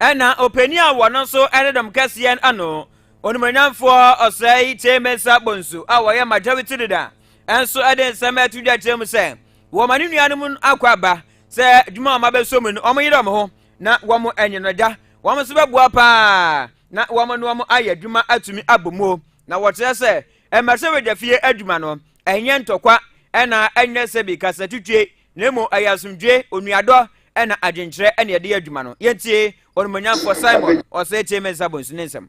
Ɛna ɔpani a wɔno nso ne dɔm kɛseɛ no ano onimuonyamfoɔ ɔsɛe tie mesa bonsu a wɔyɛ majority leader nso de nsɛm ɛto dwa kyerɛ mu sɛ wɔma ne nuanom akɔ aba sɛ adwuma a wɔabɛsɔ mu no wɔn yere wɔn ho na wɔn anyi no da wɔn nso bɛboa paa na wɔn ne wɔn ayɛ adwuma atumi abɔ mu na wɔkyerɛ sɛ mmarahyɛbadwafie adwuma no ɛnyɛ ntɔkwa ɛna ɛnyɛ sɛ bi kasatutwe Na mmom ɛyɛ asomdwoe, onuadɔ, ɛna adwenkyerɛ na yɛde yɛ adwuma no. Yentie Onimuonyamfo Simon Osetie Mensah Bonsu ne nsɛm.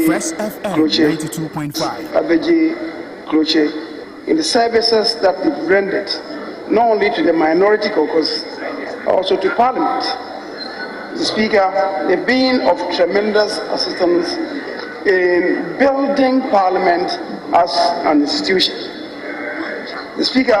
Fresh FM 92.5. Abegye Krokye in the services that they've rendered not only to the minority caucus but also to Parliament. Mr. Speaker, they've been of tremendous assistance in building Parliament as an institution. Mr. Speaker,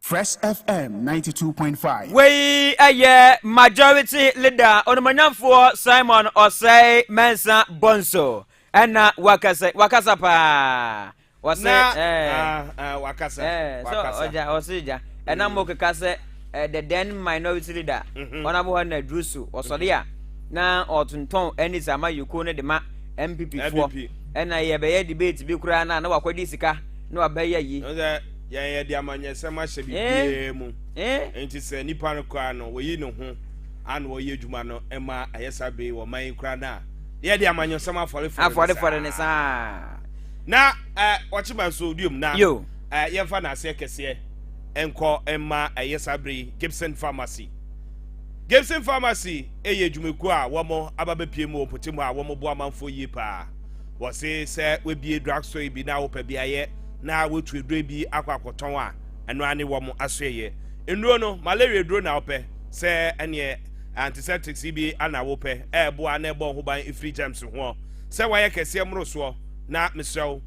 Fresh FM 92.5. Wei ɛyɛ majority leader onumonyamfoɔ Simon Ɔsɛe Mɛnsa Bonso ɛna wakasa wakasa paa wɔsɛ na ɛɛ eh, uh, ah, uh, ah, wakasa ɛɛ eh, sɛ ɔgya ɔsɛ gya ɛna mo keka sɛ ɛɛ the then minority leader ɔnabɔ hɔ na duru so ɔsɔre a na ɔtontɔn ɛne sɛ ama yoko ne de ma npp foɔ ɛna yɛbɛyɛ debate bi koraa na na wakɔdi sika na wabɛyɛ yi. Yɛn yɛde amanyɛsɛm ahyɛ biribiara mu, enti sɛ nipa no koraa no oyi ne ho ano a ɔyɛ adwuma no ma ayɛ saa bere wɔ ɔman yi koraa no a, na yɛde amanyɔsɛm afɔrefɔre no saa. Na ɔkyema nso duom na yɛmfa n'aseɛ kɛseɛ nkɔ mma ɛyɛ saa bere yi Gibson Pharmacy. Gibson Pharmacy yɛ adwumakuo a wɔn aba bɛpie mu wɔ mpɔtam hɔ a wɔboa amanfoɔ yie paa. Wɔse sɛ woabie drug store bi na wopɛ beaeɛ na woatu aduro bi akɔ akɔtɔn a, ɛno ara ne wɔn asoɛeɛ. Nnuro no, malaria aduro na wopɛ sɛ ɛneɛ antiseptics bi ana wopɛ, ɛreboa na ɛbɔ wo ho ban firi germs hoɔ. Sɛ woayɛ kɛseɛ mmorosoɔ na mesrɛ wo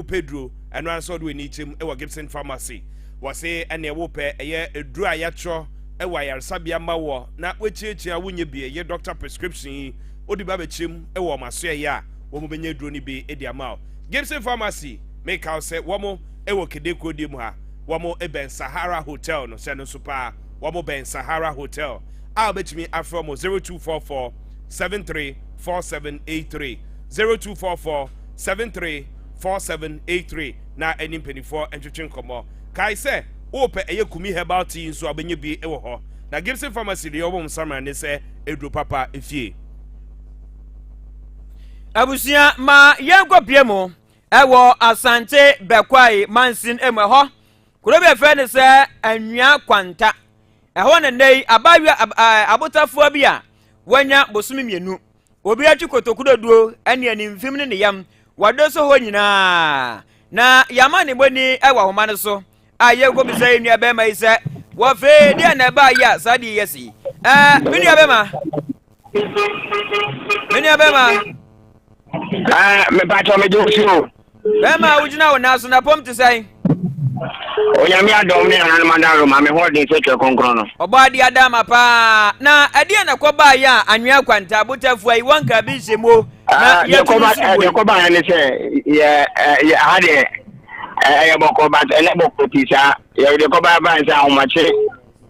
wopɛ duro, ɛno ara ne sɛ wode w'ani kyem wɔ Gibson Pharmacy. Wɔse ɛneɛ wopɛ ɛyɛ aduro a yɛatwerɛ wɔ ayaresabea ma woɔ na woakyiakyia a wonyɛ bi, ɛyɛ doctor prescription yi, Wode bi abɛkyerɛ mu wɔ wɔn asoɛeɛ a wɔn bɛnya aduro no bi de ama wo. Gibson Pharmacy, meka wo sɛ wɔn wɔ Kede kuo deɛ mu ha, wɔn bɛn Sahara Hotel no, hyɛ no nso paa, wɔn bɛn Sahara Hotel, a wobɛtumi afrɛ wɔn 0244 73 4783, 0244 73 4783 na ɛne mpanimfoɔ ntwetwe nkɔmmɔ. Kae sɛ, wopɛ ɛyɛ Kumi Herbal Tea nso a, wobɛnya bi wɔ hɔ. Na Gibson Pharmacy deɛ wɔbɔ wɔn nsaman ne sɛ, Aduro papa fie. Abusua ma yɛnkɔ pie mu ɛwɔ Asante Bɛkwae mansin mu ɛhɔ kuro bi ɛfɛ ne sɛ Anwia Kwanta ɛhɔ ne nnɛ yi abaayewa abotafoɔ bi a wanya bosome mmienu obi atwi kotokudoduo ɛne animfim ne ne yam wɔde so hɔ nyinaa na yɛama ne bɔni ɛwɔ ahoma no so A Yɛn nkɔm sɛ yɛn nuabɛrima yi sɛ, Wɔfrɛ yɛn, deɛn na ɛbaa yi a saa deɛ yi asi yi? Ɛɛ, me nuabɛrima. Me nuabɛrima. Ɛɛ, mepatɔ me gye si o. Bɛrima a wogyina wo nan so na pɔm te sɛn? Onyame adɔm ne ahanoma da roma me ho ɔden sɛ twɛ kronkron no. Ɔbɔ ade adama paa. Na ɛdeɛ na kɔbaa yɛ a anwea kwanta botafua yi wɔnka bi nhyɛ mu o. Na ah, yɛtu no so wei. Deɛ kɔbaa yɛ ne sɛ yɛ aha deɛ Eh, ɛyɛ bɔkɔ but ɛnɛ bɔkɔ pii saa yɛwɔ deɛ kɔba ɛba nsɛ ahomakye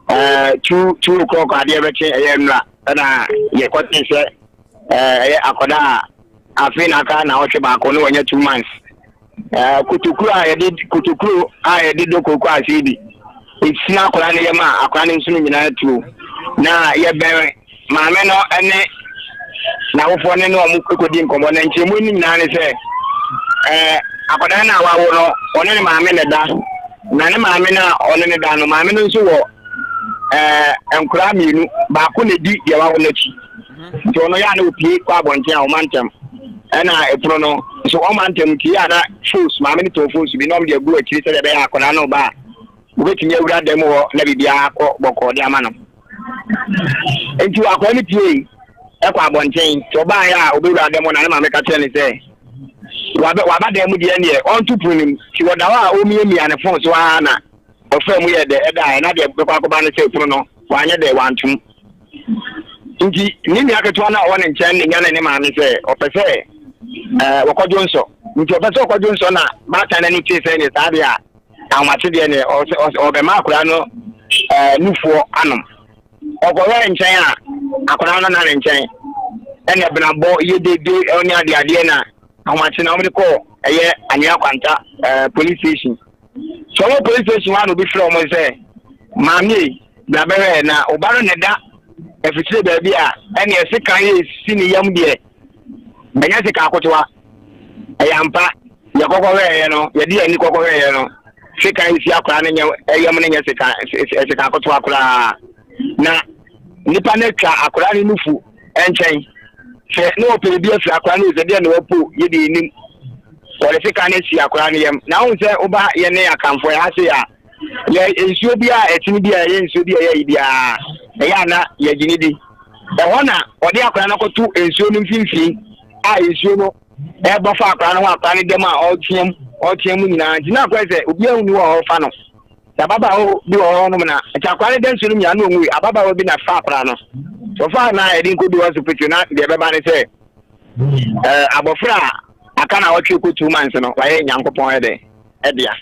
eh, two two o'clock adeɛ bɛkye ɛyɛ nnura ɛna yɛkɔte sɛ eh, ɛyɛ akɔda a afei na aka na ɔtwe baako ne wɔnyɛ two months eh, kotokuro a yɛde kotokuro a yɛde do koko ase bi ɛsina akɔda no yɛ ma akɔda no nso no nyinaa tuo na yɛbɛn maame no ne n'awofoɔ ne ne wɔn kɔdi nkɔmmɔ na nkyɛnmu no nyinaa ne sɛ ɛɛ akwadaa no a wawo no ɔne ne maame na da na ne maame no a ɔne ne da no maame no nso wɔ ɛɛ nkoraa mmienu baako na di deɛ wawo no akyi mhm. nti ɔno yɛ a na opie kɔ abɔnten a ɔma ntɛm ɛna ɛpono no nso ɔma ntɛm nti yɛ a na fos maame no tɔn fos bi na ɔmo deɛ gu akyiri sɛdeɛ ɛbɛyɛ akwadaa no ba a wobɛtumi awura dɛm hɔ na biribiara akɔ bɔkɔɔ de ama no. Enti wakɔa no piei kɔ abɔnten. Nti ɔbaa yɛ a obewura dan mu na ne maame ka kyerɛ ne sɛ waba waba dan mu deɛ neɛ ɔnto pono no mu. Nti wɔda hɔ a ɔmiamia ne fon so aa na ɔfaa mu yɛ dɛ ɛdaeɛ na deɛ bɛkɔ akɔba ne sɛ pono no wanyɛ dɛ wantom. Nti ne nua ketewa no a ɔwɔ ne nkyɛn ne nyane ne maame sɛ ɔpɛ sɛ ɛɛ wɔkɔdwo nsɔ. Nti ɔpɛ sɛ ɔkɔdwo nsɔ na baatan no ani tee sɛ ɛnyɛ saa deɛ a Ahomakye deɛ neɛ ɔsɛ ɔsɛ ɔbɛma akwadaa no ɛɛ nufoɔ anom. Ɔkɔhwɛ nkyɛn a akwadaa no na ne nkyɛn ɛna ɛbenabɔ yɛ dede ɔne adeɛ adeɛ na ahomakye na wɔn de kɔ ɛyɛ anwea kwanta ɛɛ police station. So wɔn police station hɔ a na obi frɛ wɔn sɛ maame yi na bɛhwɛ na ɔba no na ɛda afikyire baabi a ɛna ɛsekan yɛ esi ne yam deɛ ɛnyɛ sekan akotoa. ɛyɛ ampa yɛ kɔkɔhwɛeɛ no yɛde yɛn ani kɔkɔhwɛeɛ no sekan nsi akora no nyɛ ɛyam no nyɛ sekan sekan akotoa koraa na nipa no atwa akora no nufu nkyɛn sɛ na ɔpɛ bi afiri akora no sɛ deɛ na wapo yɛ deɛ nim wɔde sekan no asi akora no yam na ahun sɛ woba yɛ ne akanfoɔ yɛ ase a yɛ nsuo bi a ɛtene bi a ɛyɛ nsuo bi a ɛyɛ yi biara ɛyɛ ana yɛgye ne di ɛhɔ na ɔde akora no akɔto nsuo no mfimfini a nsuo no ɛbɔ fa akora no ho akora no dɛm a ɔreteam ɔreteam nyinaa nti na akora sɛ obi ahu ni wɔ hɔ fa no sɛ ababaawa bi wɔ hɔ nom na nti akora no da nsuo no nyinaa na ɔnwui ababaawa bi na fa akora no wɔfa na yɛde nkɔdu hospital na deɛ ɛbɛba ne sɛ ɛɛ abɔfra a aka na ɔtwe kɔ two months no wayɛ nyankopɔn ɛdɛ ɛdea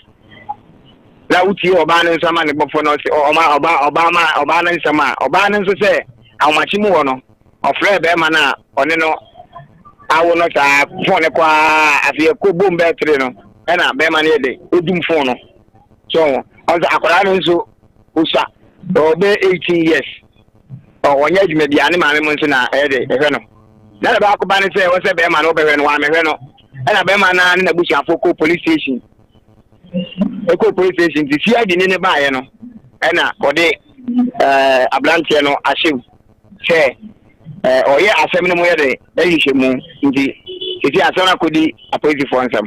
na wotie ɔbaa no nso ama ne bɔfo no ɔma ɔbaa ɔbaa ma ɔbaa no nsɛm a ɔbaa no nso sɛ ahomakye mu hɔ no Ɔfrɛɛ bɛɛma no a ɔne no awo no saa fon no kɔ aa afei ɛkɔ bom bɛɛ tiri no ɛna bɛɛma no yɛ dɛ ɔdum fon no so ɔnso akwadaa no nso ɔsua ɔbɛ 18 years ɔnyɛ adwuma biara ne maame mu nso na ɛyɛ dɛ ɛhwɛ no na na baako ba no sɛ wɔ sɛ bɛɛma no ɔbɛhwɛ no wɔamɛhwɛ no ɛna bɛɛma no ne n'abusuafoɔ kɔ police station ɛkɔ police station nti si adi ne ne baeɛ no ɛna ɔde ɛɛ aberanteɛ no ahyɛm sɛ ɛɛ ɔyɛ asɛm no mu yɛ dɛ ɛhyehyɛ mu nti eti asɛm no akɔdi apolisifoɔ nsɛm.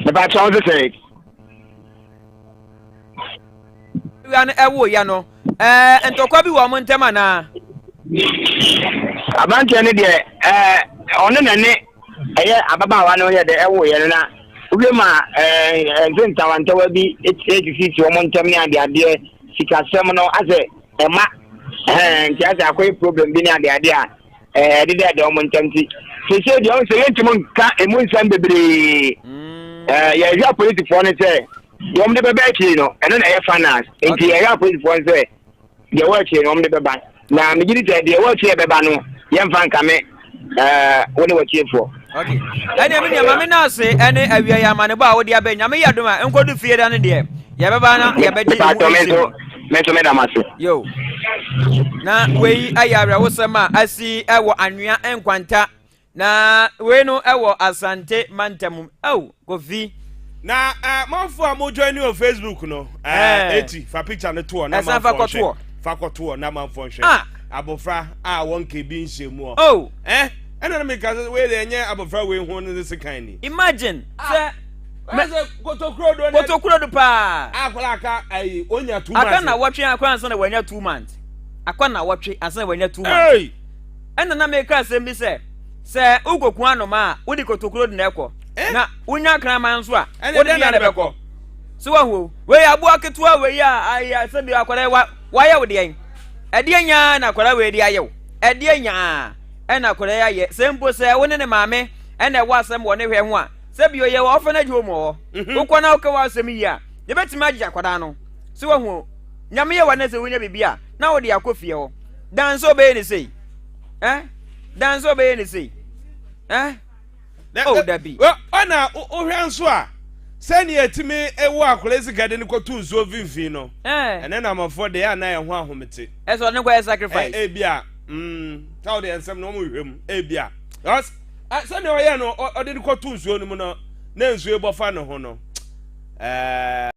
Mepɛ akyerɛ wo sɛ sɛ. awia no ɛwoeɛ no ɛɛ ntɔkwa bi wɔ wɔn ntam anaa. aberanteɛ no deɛ ɛɛ ɔne na ne. ɛyɛ ababaawa no yɛ dɛ ɛwoeɛ no na wowie ma ɛdze ntawantawa bi esisisi wɔn ntam ne adeadeɛ sikasɛm no asɛ ɛma nti asɛ akɔyɛ problem bi ne adeadeɛ a ɛde dɛ ɛdɛ wɔn ntam ti sese deɛ ɔn sɛ yɛntumi nka emu nsɛm bebree yɛhwɛ apolisifoɔ no sɛ deɛ wɔn de bɛba akyiri no ɛno na ɛyɛ finance nti yɛhwɛ apolisifoɔ no sɛ deɛ wɔ akyiri no wɔn de bɛba. Na megye di sɛ deɛ wɔrekyerɛ bɛba no yɛmfa nkame wo ne watiefoɔ. ok ɛnna mi nua maame naase ɛne awia yɛ amanebɔ a wode abɛ nyame yɛ dom a nkodu fie da no deɛ yɛbɛba na yɛbɛgye ɛho nsi no mɛnso mɛda mo ase yo na wei ayɛ awerɛhosɛm a asi ɛwɔ anwea nkwanta Na wei no ɛwɔ Asante mantam ɛw Kofi. Na ɛɛ eh, manfo a mo join ni wɔ Facebook no ɛɛ eh, eh. eti fa picture no toɔ na manfo nhwɛ fa kɔtoɔ na manfo nhwɛ ah. abofra a wɔn ke bi nhyɛ mu ɔ oh. ɛɛ ɛna mi ka sɛ wei de ɛnyɛ abofra wei ho ne se kan ni. Imagine ah. sɛ. mɛsɛ kotokuro do ne kotokuro do paa. akɔla aka ayi onya two months. aka na wɔtwe akɔla nsa na wɔnya two months akɔ na wɔtwe ansa na wɔnya two months. Hey! Ɛnna na meka asɛm bi sɛ, Sɛ wokokua nnomaa a, wode kotokuro de na ɛkɔ, eh? na wonya akraman nso a, wode deɛ na ɛbɛkɔ. So wahu o, wei aboa ketewa wei a ayɛ sɛ bi akwadaa wa wayɛ wo deɛn? Ɛdeɛ nyaa na akwadaa wei de ayɛ wo? Ɛdeɛ nyaa ɛna akwadaa ayɛ? Sɛ mpo sɛ wo ne ne maame ɛna ɛwɔ asɛm wɔ ne hwɛ ho a, sɛ bi ɔyɛ wɔ orphanage home hɔ, mhm. wokɔ na wokɛ wɔ asɛm yi a, yɛbɛtumi agye akwadaa no. So wahu o, nyame yɛ wa na sɛ wonya biribi a, na wode akɔ fie hɔ dan sɛ ɔbɛyɛ ne sei eh? dan sɛ ɔbɛyɛ ne sei eh? o oh, dabi ɔna wohwɛ nso a sɛnea ɛtumi ɛwɔ akɔla sika de no kɔto nsuo mfimfini no eh. ɛne namɔfoɔ deɛ a na ɛho ahomete ɛsɛ ɔne kɔyɛ sacrifice ebi a mm, sɛ wode ɛnsɛm no ɔmohwɛ mu ebi a sɛnea ɔyɛ no ɔde no kɔto nsuo no mu no na nsuo bɔfa ne ho no ɛɛ eh.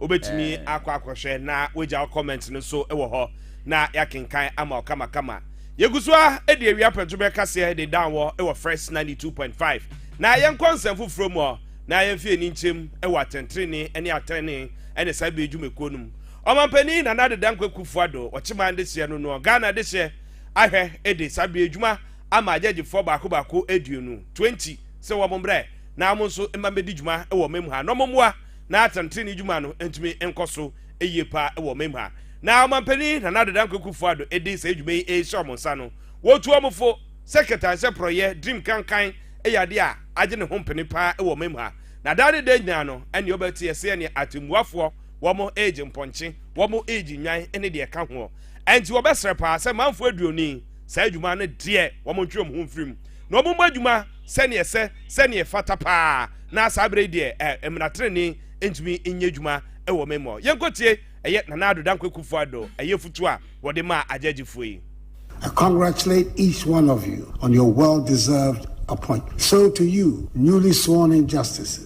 Wobɛtumi akɔ akɔhwɛ na woagya wo comment no nso wɔ hɔ na yɛakenkan ama wo kamakama. Yɛgu so ara de awia pɛto bɛkaseɛ de dan wɔ wɔ First 92.5. Na yɛnkɔ nsɛm foforɔ mu hɔ na yɛmfi ani nkyem wɔ atɛntrenee ne atɛnee ne saa bɛ dwumakuo no mu. Ɔmanpanin Nana Addo Dankwa Kuffo Addo wɔ Kyeman dehyeɛ no noɔ Ghana dehyeɛ ahwɛ de saa bɛ dwuma ama agyagyefoɔ baako baako aduonu, 20, sɛ wɔn mbrɛ na wɔn nso mma mbɛdi dwuma wɔ mɛmu ha na wɔn mmoa na atɛntrenee dwuma no ntumi nkɔ so yie pa ara wɔ ɔman mu ha. Na Ɔmanpanin Nana Addo Dankwa Akufo-Addo de saa dwuma yi rehyɛ wɔn nsa no, wɔtu wɔn fo sɛ kɛtaa sɛ porɔeɛ, dream, kankan yɛ adeɛ a agye ne ho mpene pa ara wɔ ɔman mu ha. Na daa ne daa nyinaa no, ɛnneɛ wɔbɛte ɛsɛ ɛnneɛ atɛmmuafoɔ, wɔn regye mpɔnkye, wɔn regye nnwan ne deɛ ɛka hoɔ. Ɛnti wɔbɛsrɛ pa ara sɛ manfoɔ aduoni, Saa adwuma no deɛ, wɔntwe wɔn ho mfiri mu, na wɔmmɔ adwuma sɛdeɛ ɛsɛ, sɛdeɛ ɛfata pa ara, na saa berɛ yi deɛ, ɛ, mmara tenenee ntumi nyɛ adwuma wɔ wɔn mu. Yɛnkɔtie, ɛyɛ Nana Addo Dankwa Kuffo Addo, ɛyɛ afutuo a wɔde maa agyagyefoɔ yi. I congratulate each one of you on your well deserved appointment. So to you newly sworn in Justices,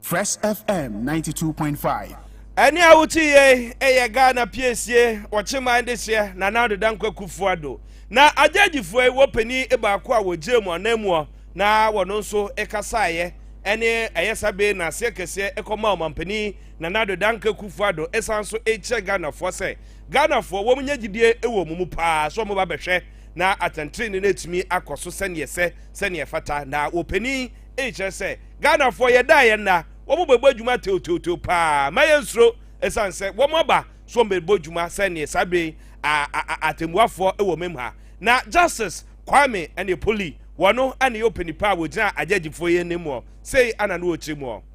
Fresh FM ninety two point five. Ɛne a wote yei ɛyɛ Ghana piesie wɔ Kyeman dehyeɛ Nana Ado Dankwa Kufuor Addo. Na agyaagyifua yi wɔ panin baako a wɔgyee mu ananmuɔ na wɔno nso kasaeɛ ɛne ɛyɛ sa bee na aseɛ kɛseɛ ɛkɔmaa ɔmanpanin Nana Ado Dankwa Kufuor Addo ɛsan nso ɛkyerɛ Ghanafoɔ sɛ Ghanafoɔ wɔn nya gyidie ɛwɔ wɔn mu paa sɛ wɔn ba bɛhwɛ na atɛntrenee no atumi akɔ so sɛneɛ ɛsɛ sɛneɛ ɛfata na wɔ panin Eyi kyerɛ sɛ Ghanafoɔ yɛda a yɛnna, wɔn bɛbɔ adwuma teoteoteo pa ara. Mma yɛnsuro ɛsiane sɛ wɔn aba so wɔn bɛbɔ dwuma sɛ neɛ saa berɛ yi atɛmmuafoɔ wɔ mem ha. Na Justice Kwame Aneapoh Lee, wɔno na ɛyɛ ɔpɛnipa a wɔgyina agyɛgyefoɔ yi anim ɔ, sei na na ɔkyerɛ mu ɔ.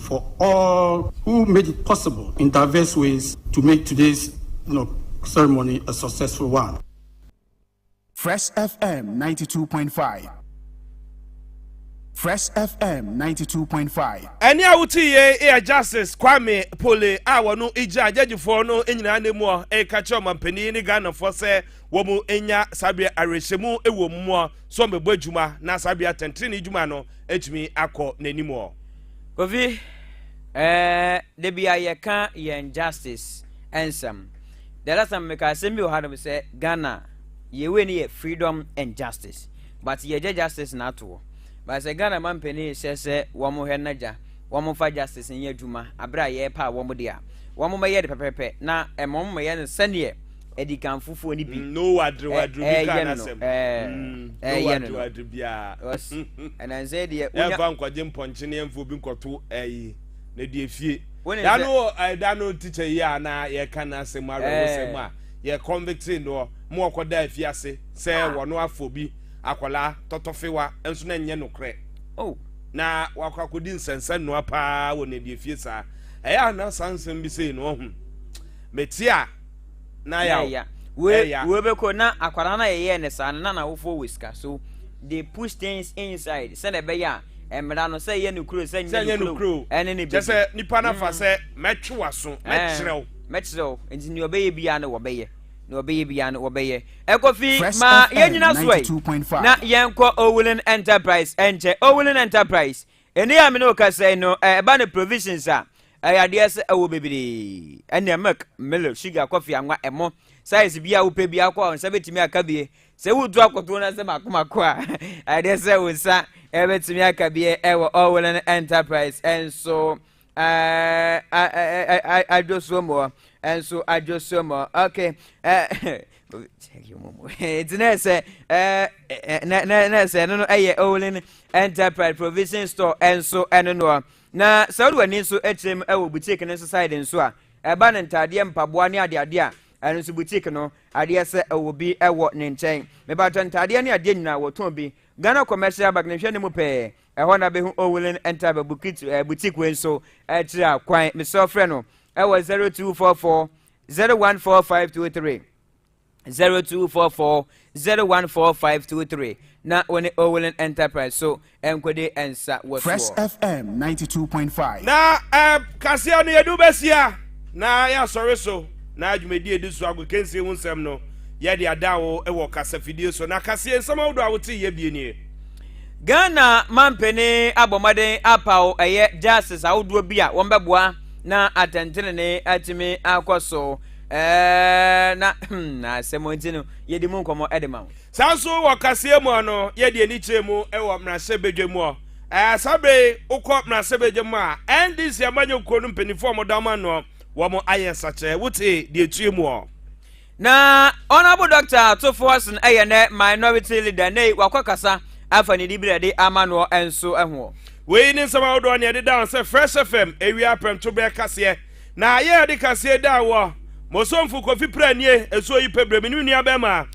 for all who made it possible in diverse ways to make today's ceremony a successful one. Fresh FM 92.5 Fresh FM 92.5. Ɛne a wote yei yɛ Justice Kwame Pole a wɔno gya agyagyefoɔ no nyinaa ne muɔ ɛka kyerɛ ɔmampanin ne Ghanafoɔ sɛ wɔn nya saa bere awerɛhyɛmu wɔ muɔ so wɔbɛbɔ adwuma na saa bere atɛntene adwuma no atumi akɔ n'animuɔ. Kofi, Ɛɛ, da bi a yɛka yɛn justice nsɛm. The last time meka asɛm bi wɔ hanom sɛ Ghana yɛ wei no yɛ freedom and justice. But yɛgya justice na atoɔ. But sɛ Ghana ma mpanin hyɛ sɛ wɔn hwɛ na gya wɔn mfa justice nyɛ adwuma abere a yɛrepɛ a wɔn de a wɔn mɛyɛ de pɛpɛpɛ na ɛma wɔn mɛyɛ no sɛdeɛ adikanfofoɔ no bi mm, no wadere wadere bi kra n'asɛm ɛyɛ no no wadere biara ɛnansɛ deɛ ɛmfa nkɔgye mpɔnkyenee ɛmfa obi nkɔto ɛyi na deɛ fie da no da no tikya yi a na yɛka n'asɛm awerɛhosɛm a yɛ convictee noɔ ma ɔkɔda afie ase sɛ ah. wɔno afɔ bi akwadaa tɔtɔfewa nso na nyɛ nokorɛ oh. na wakɔ akɔdi nsɛnsɛ nnoa paa wɔ ne deɛ fie saa ɛyɛ a na saa nsɛm bi sei na ɔhu mɛti a na ɛyɛ ya wei bɛkɔ na akwadaa no a yɛyɛɛ no saa no na n'awofoɔ wɔ sika so they push things inside sɛ na ɛbɛyɛ a mmara no sɛ yɛ no kuro sɛ nyɛ no kuro ɛne ne bi kyɛ sɛ nipa no fa mm. sɛ mɛtwe waso mɛkyerɛw mɛkyerɛw nti nea ɔbɛyɛ biara no wɔbɛyɛ na ɔbɛyɛ biara no wɔbɛyɛ ɛkɔfi ma yɛnyina so ɛ na yɛnkɔ owulen enterprise ɛnkyɛ owulen enterprise Ɛnɛ a me ne wo kasa yi no, ɛba no provisions a, ɛyɛ adeɛ sɛ ɛwɔ bebree. Ɛnneɛ milk, milo, sugar, kɔfe, anwa, ɛmo, size bi a wopɛ bi akɔ a nsa bɛtumi aka bie. Sɛ woretu akɔto no sɛ mako mako a, ɛyɛ adeɛ sɛ wo nsa bɛtumi aka bie ɛwɔ Ɔwolɛn Enterprise nso. adwosomoɔ nso adwosomoɔ ok nti na sɛ na sɛ ɛno no ɛyɛ olin enterprise provision store nso ɛno noɔ na sɛ wode w'ani nso akyerɛ mu ɛwɔ boutique no nso side nso a ɛba no ntaadeɛ mpaboa ne adeadeɛ a ɛno nso boutique no adeɛ sɛ ɛwɔ bi ɛwɔ ne nkyɛn mebatɔ ntaadeɛ ne adeɛ nyinaa wɔtɔn bi ghana commercial bank ne hwɛ ne mu pɛɛ Ɛhɔ na bɛhu Owulen Ntaba Bukit Boutique wei nso kyerɛ a kwan. Mesrɛ wo frɛ no ɛwɔ 0244 014523, 0244 014523 na wo ne Owulen Enterprise so nkɔdi nsa wɔ soɔ. Fresh FM ninety two point five. Na ɛɛ kaseɛ no yɛde wobɛsia na yɛasɔre so na dwumadie edi so agokansie ho nsɛm no yɛde ada wo wɔ kasafidie so na kaseɛ nsɛm ahodoɔ a wote yɛ bie nie. Ghana mampanin abɔ mmɔden apaw ɛyɛ justice ahodoɔ bi a wɔbɛboa na atɛntenenee atumi akɔ so ɛɛ na hmm, na asɛm nti no yɛdi mu nkɔmmɔ ɛde ma wo. saa nso wɔ kaseɛ mu no yɛde ani kyerɛ mu wɔ mmarahyɛbadwa mu hɔ ɛɛ saa berɛ yi wokɔ mmarahyɛbadwa mu a ndc amanyɔkuo no mpanimfoɔ a wɔda wɔn ano wɔn ayɛ nsakyerɛ wote deɛ ɛtue mu hɔ. Na Honourable Doctor Atufoasen yɛ nɛ minority leader nei wakɔkasa afa ne dibere de ama noɔ nso ho. Wei ne nsɛm ahodoɔ ne ɛdeda ho sɛ Fresh FM ɛwia aprɛnto bɛɛ kaseɛ na yɛ ɛde kaseɛ da wɔ Mosomfo Kofi Pranie ɛsuo yi pɛ berɛ menim nua bɛɛmaa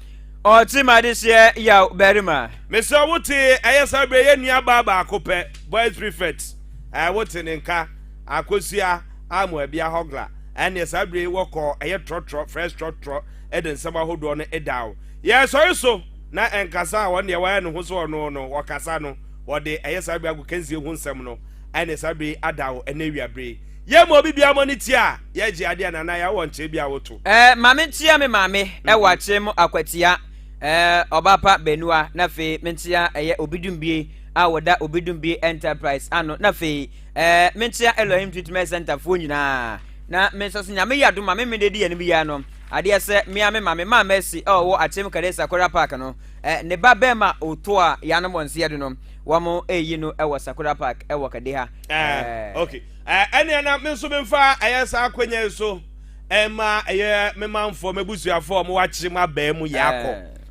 Ɔte madehyeɛ yaw barima. Mesrɛ wo te ɛyɛ saa berɛ yɛ nua baa baako pɛ boys prefect ɛɛ wo te ne nka akosua. a mu a bia hogla ɛneɛ saa berɛ yi wɔ kɔɔ ɛyɛ trɔtrɔ fresh trɔtrɔ ɛde nsɛm ahodoɔ no ɛdaw yɛ sɔre so na ɛnkasa a wɔn deɛ wɔayɛ ne ho so wɔn no wɔkasa no wɔde ɛyɛ saa berɛ agokansie ho nsɛm no ɛne saa berɛ yi adaw ɛne awia berɛ yi yɛ ma obi bia mɔ ne ti a yɛ gye adeɛ na na yɛ wɔ nkyɛn bi a woto. Ɛɛ maame ntia me maame ɛwɔ akyerɛ mu akwatia ɛɛ ɔbaapa benua na afei mentia ɛyɛ obidumbie a wɔda obidumbie enterprise ano na afei Ɛɛ, menkyea Elohim Treatment Center foɔ nyinaa. Na me nso so nyame yɛ adom ma me mede di yɛn bi yɛ no. Adeɛ sɛ me a me maame maa Mercy a ɔwɔ Akyem Kadesa Sakora Park no, eh, ne ba bɛrima Oto a yɛanom wɔn nseɛ do no, wɔn eyi no wɔ Sakora Park wɔ Kadeha. Eh, eh. okay. Eh, ɛneɛ na me nso memfa ɛyɛ saa akwanya yi so ɛma ɛyɛ me manfoɔ m'abusuafoɔ a wɔwɔ Akyem abɛɛ mu yɛakɔ.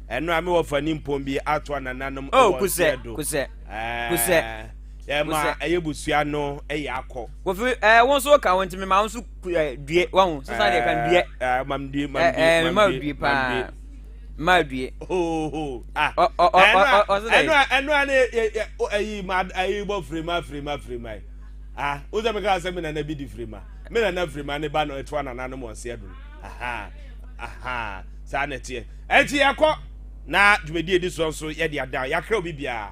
Eh. ɛno a mewɔ fa nimpɔn bi ato anananom oh, wɔ nseɛ do. Oh, kusɛ, kusɛ, kusɛ. Ɛ ma Wosɛ- ɛyɛ busua no ɛyɛ akɔ. Kofi, ɛɛ wo nso ka wo nti mema wo nso ku- ɛɛ, due wahu sesa deɛ ka no due. Ɛɛ, mam due, mam Ɛɛ, due, ɛɛ, mam mema wo due, due mam paa. due. Mema wo due. Oho, ah. Ɔ- ɔ- ɔ- Ɛno a- ɔ- ɔ- ɔse dɛ? ɛno a- ɛno a ne yɛ- yɛ- o- ɛyi ma ɛyi bɔ firima firima firima yi. Ah, wo sɛ meka sɛ me nana bi di firima. Me nana firima ne ba no ɛtoa nananom wɔn se adum. Aha, aha, saa na ɛteɛ. Ɛnti yɛkɔ na dwumadie di soɔ nso yɛde ada yɛakrɛ obi biara.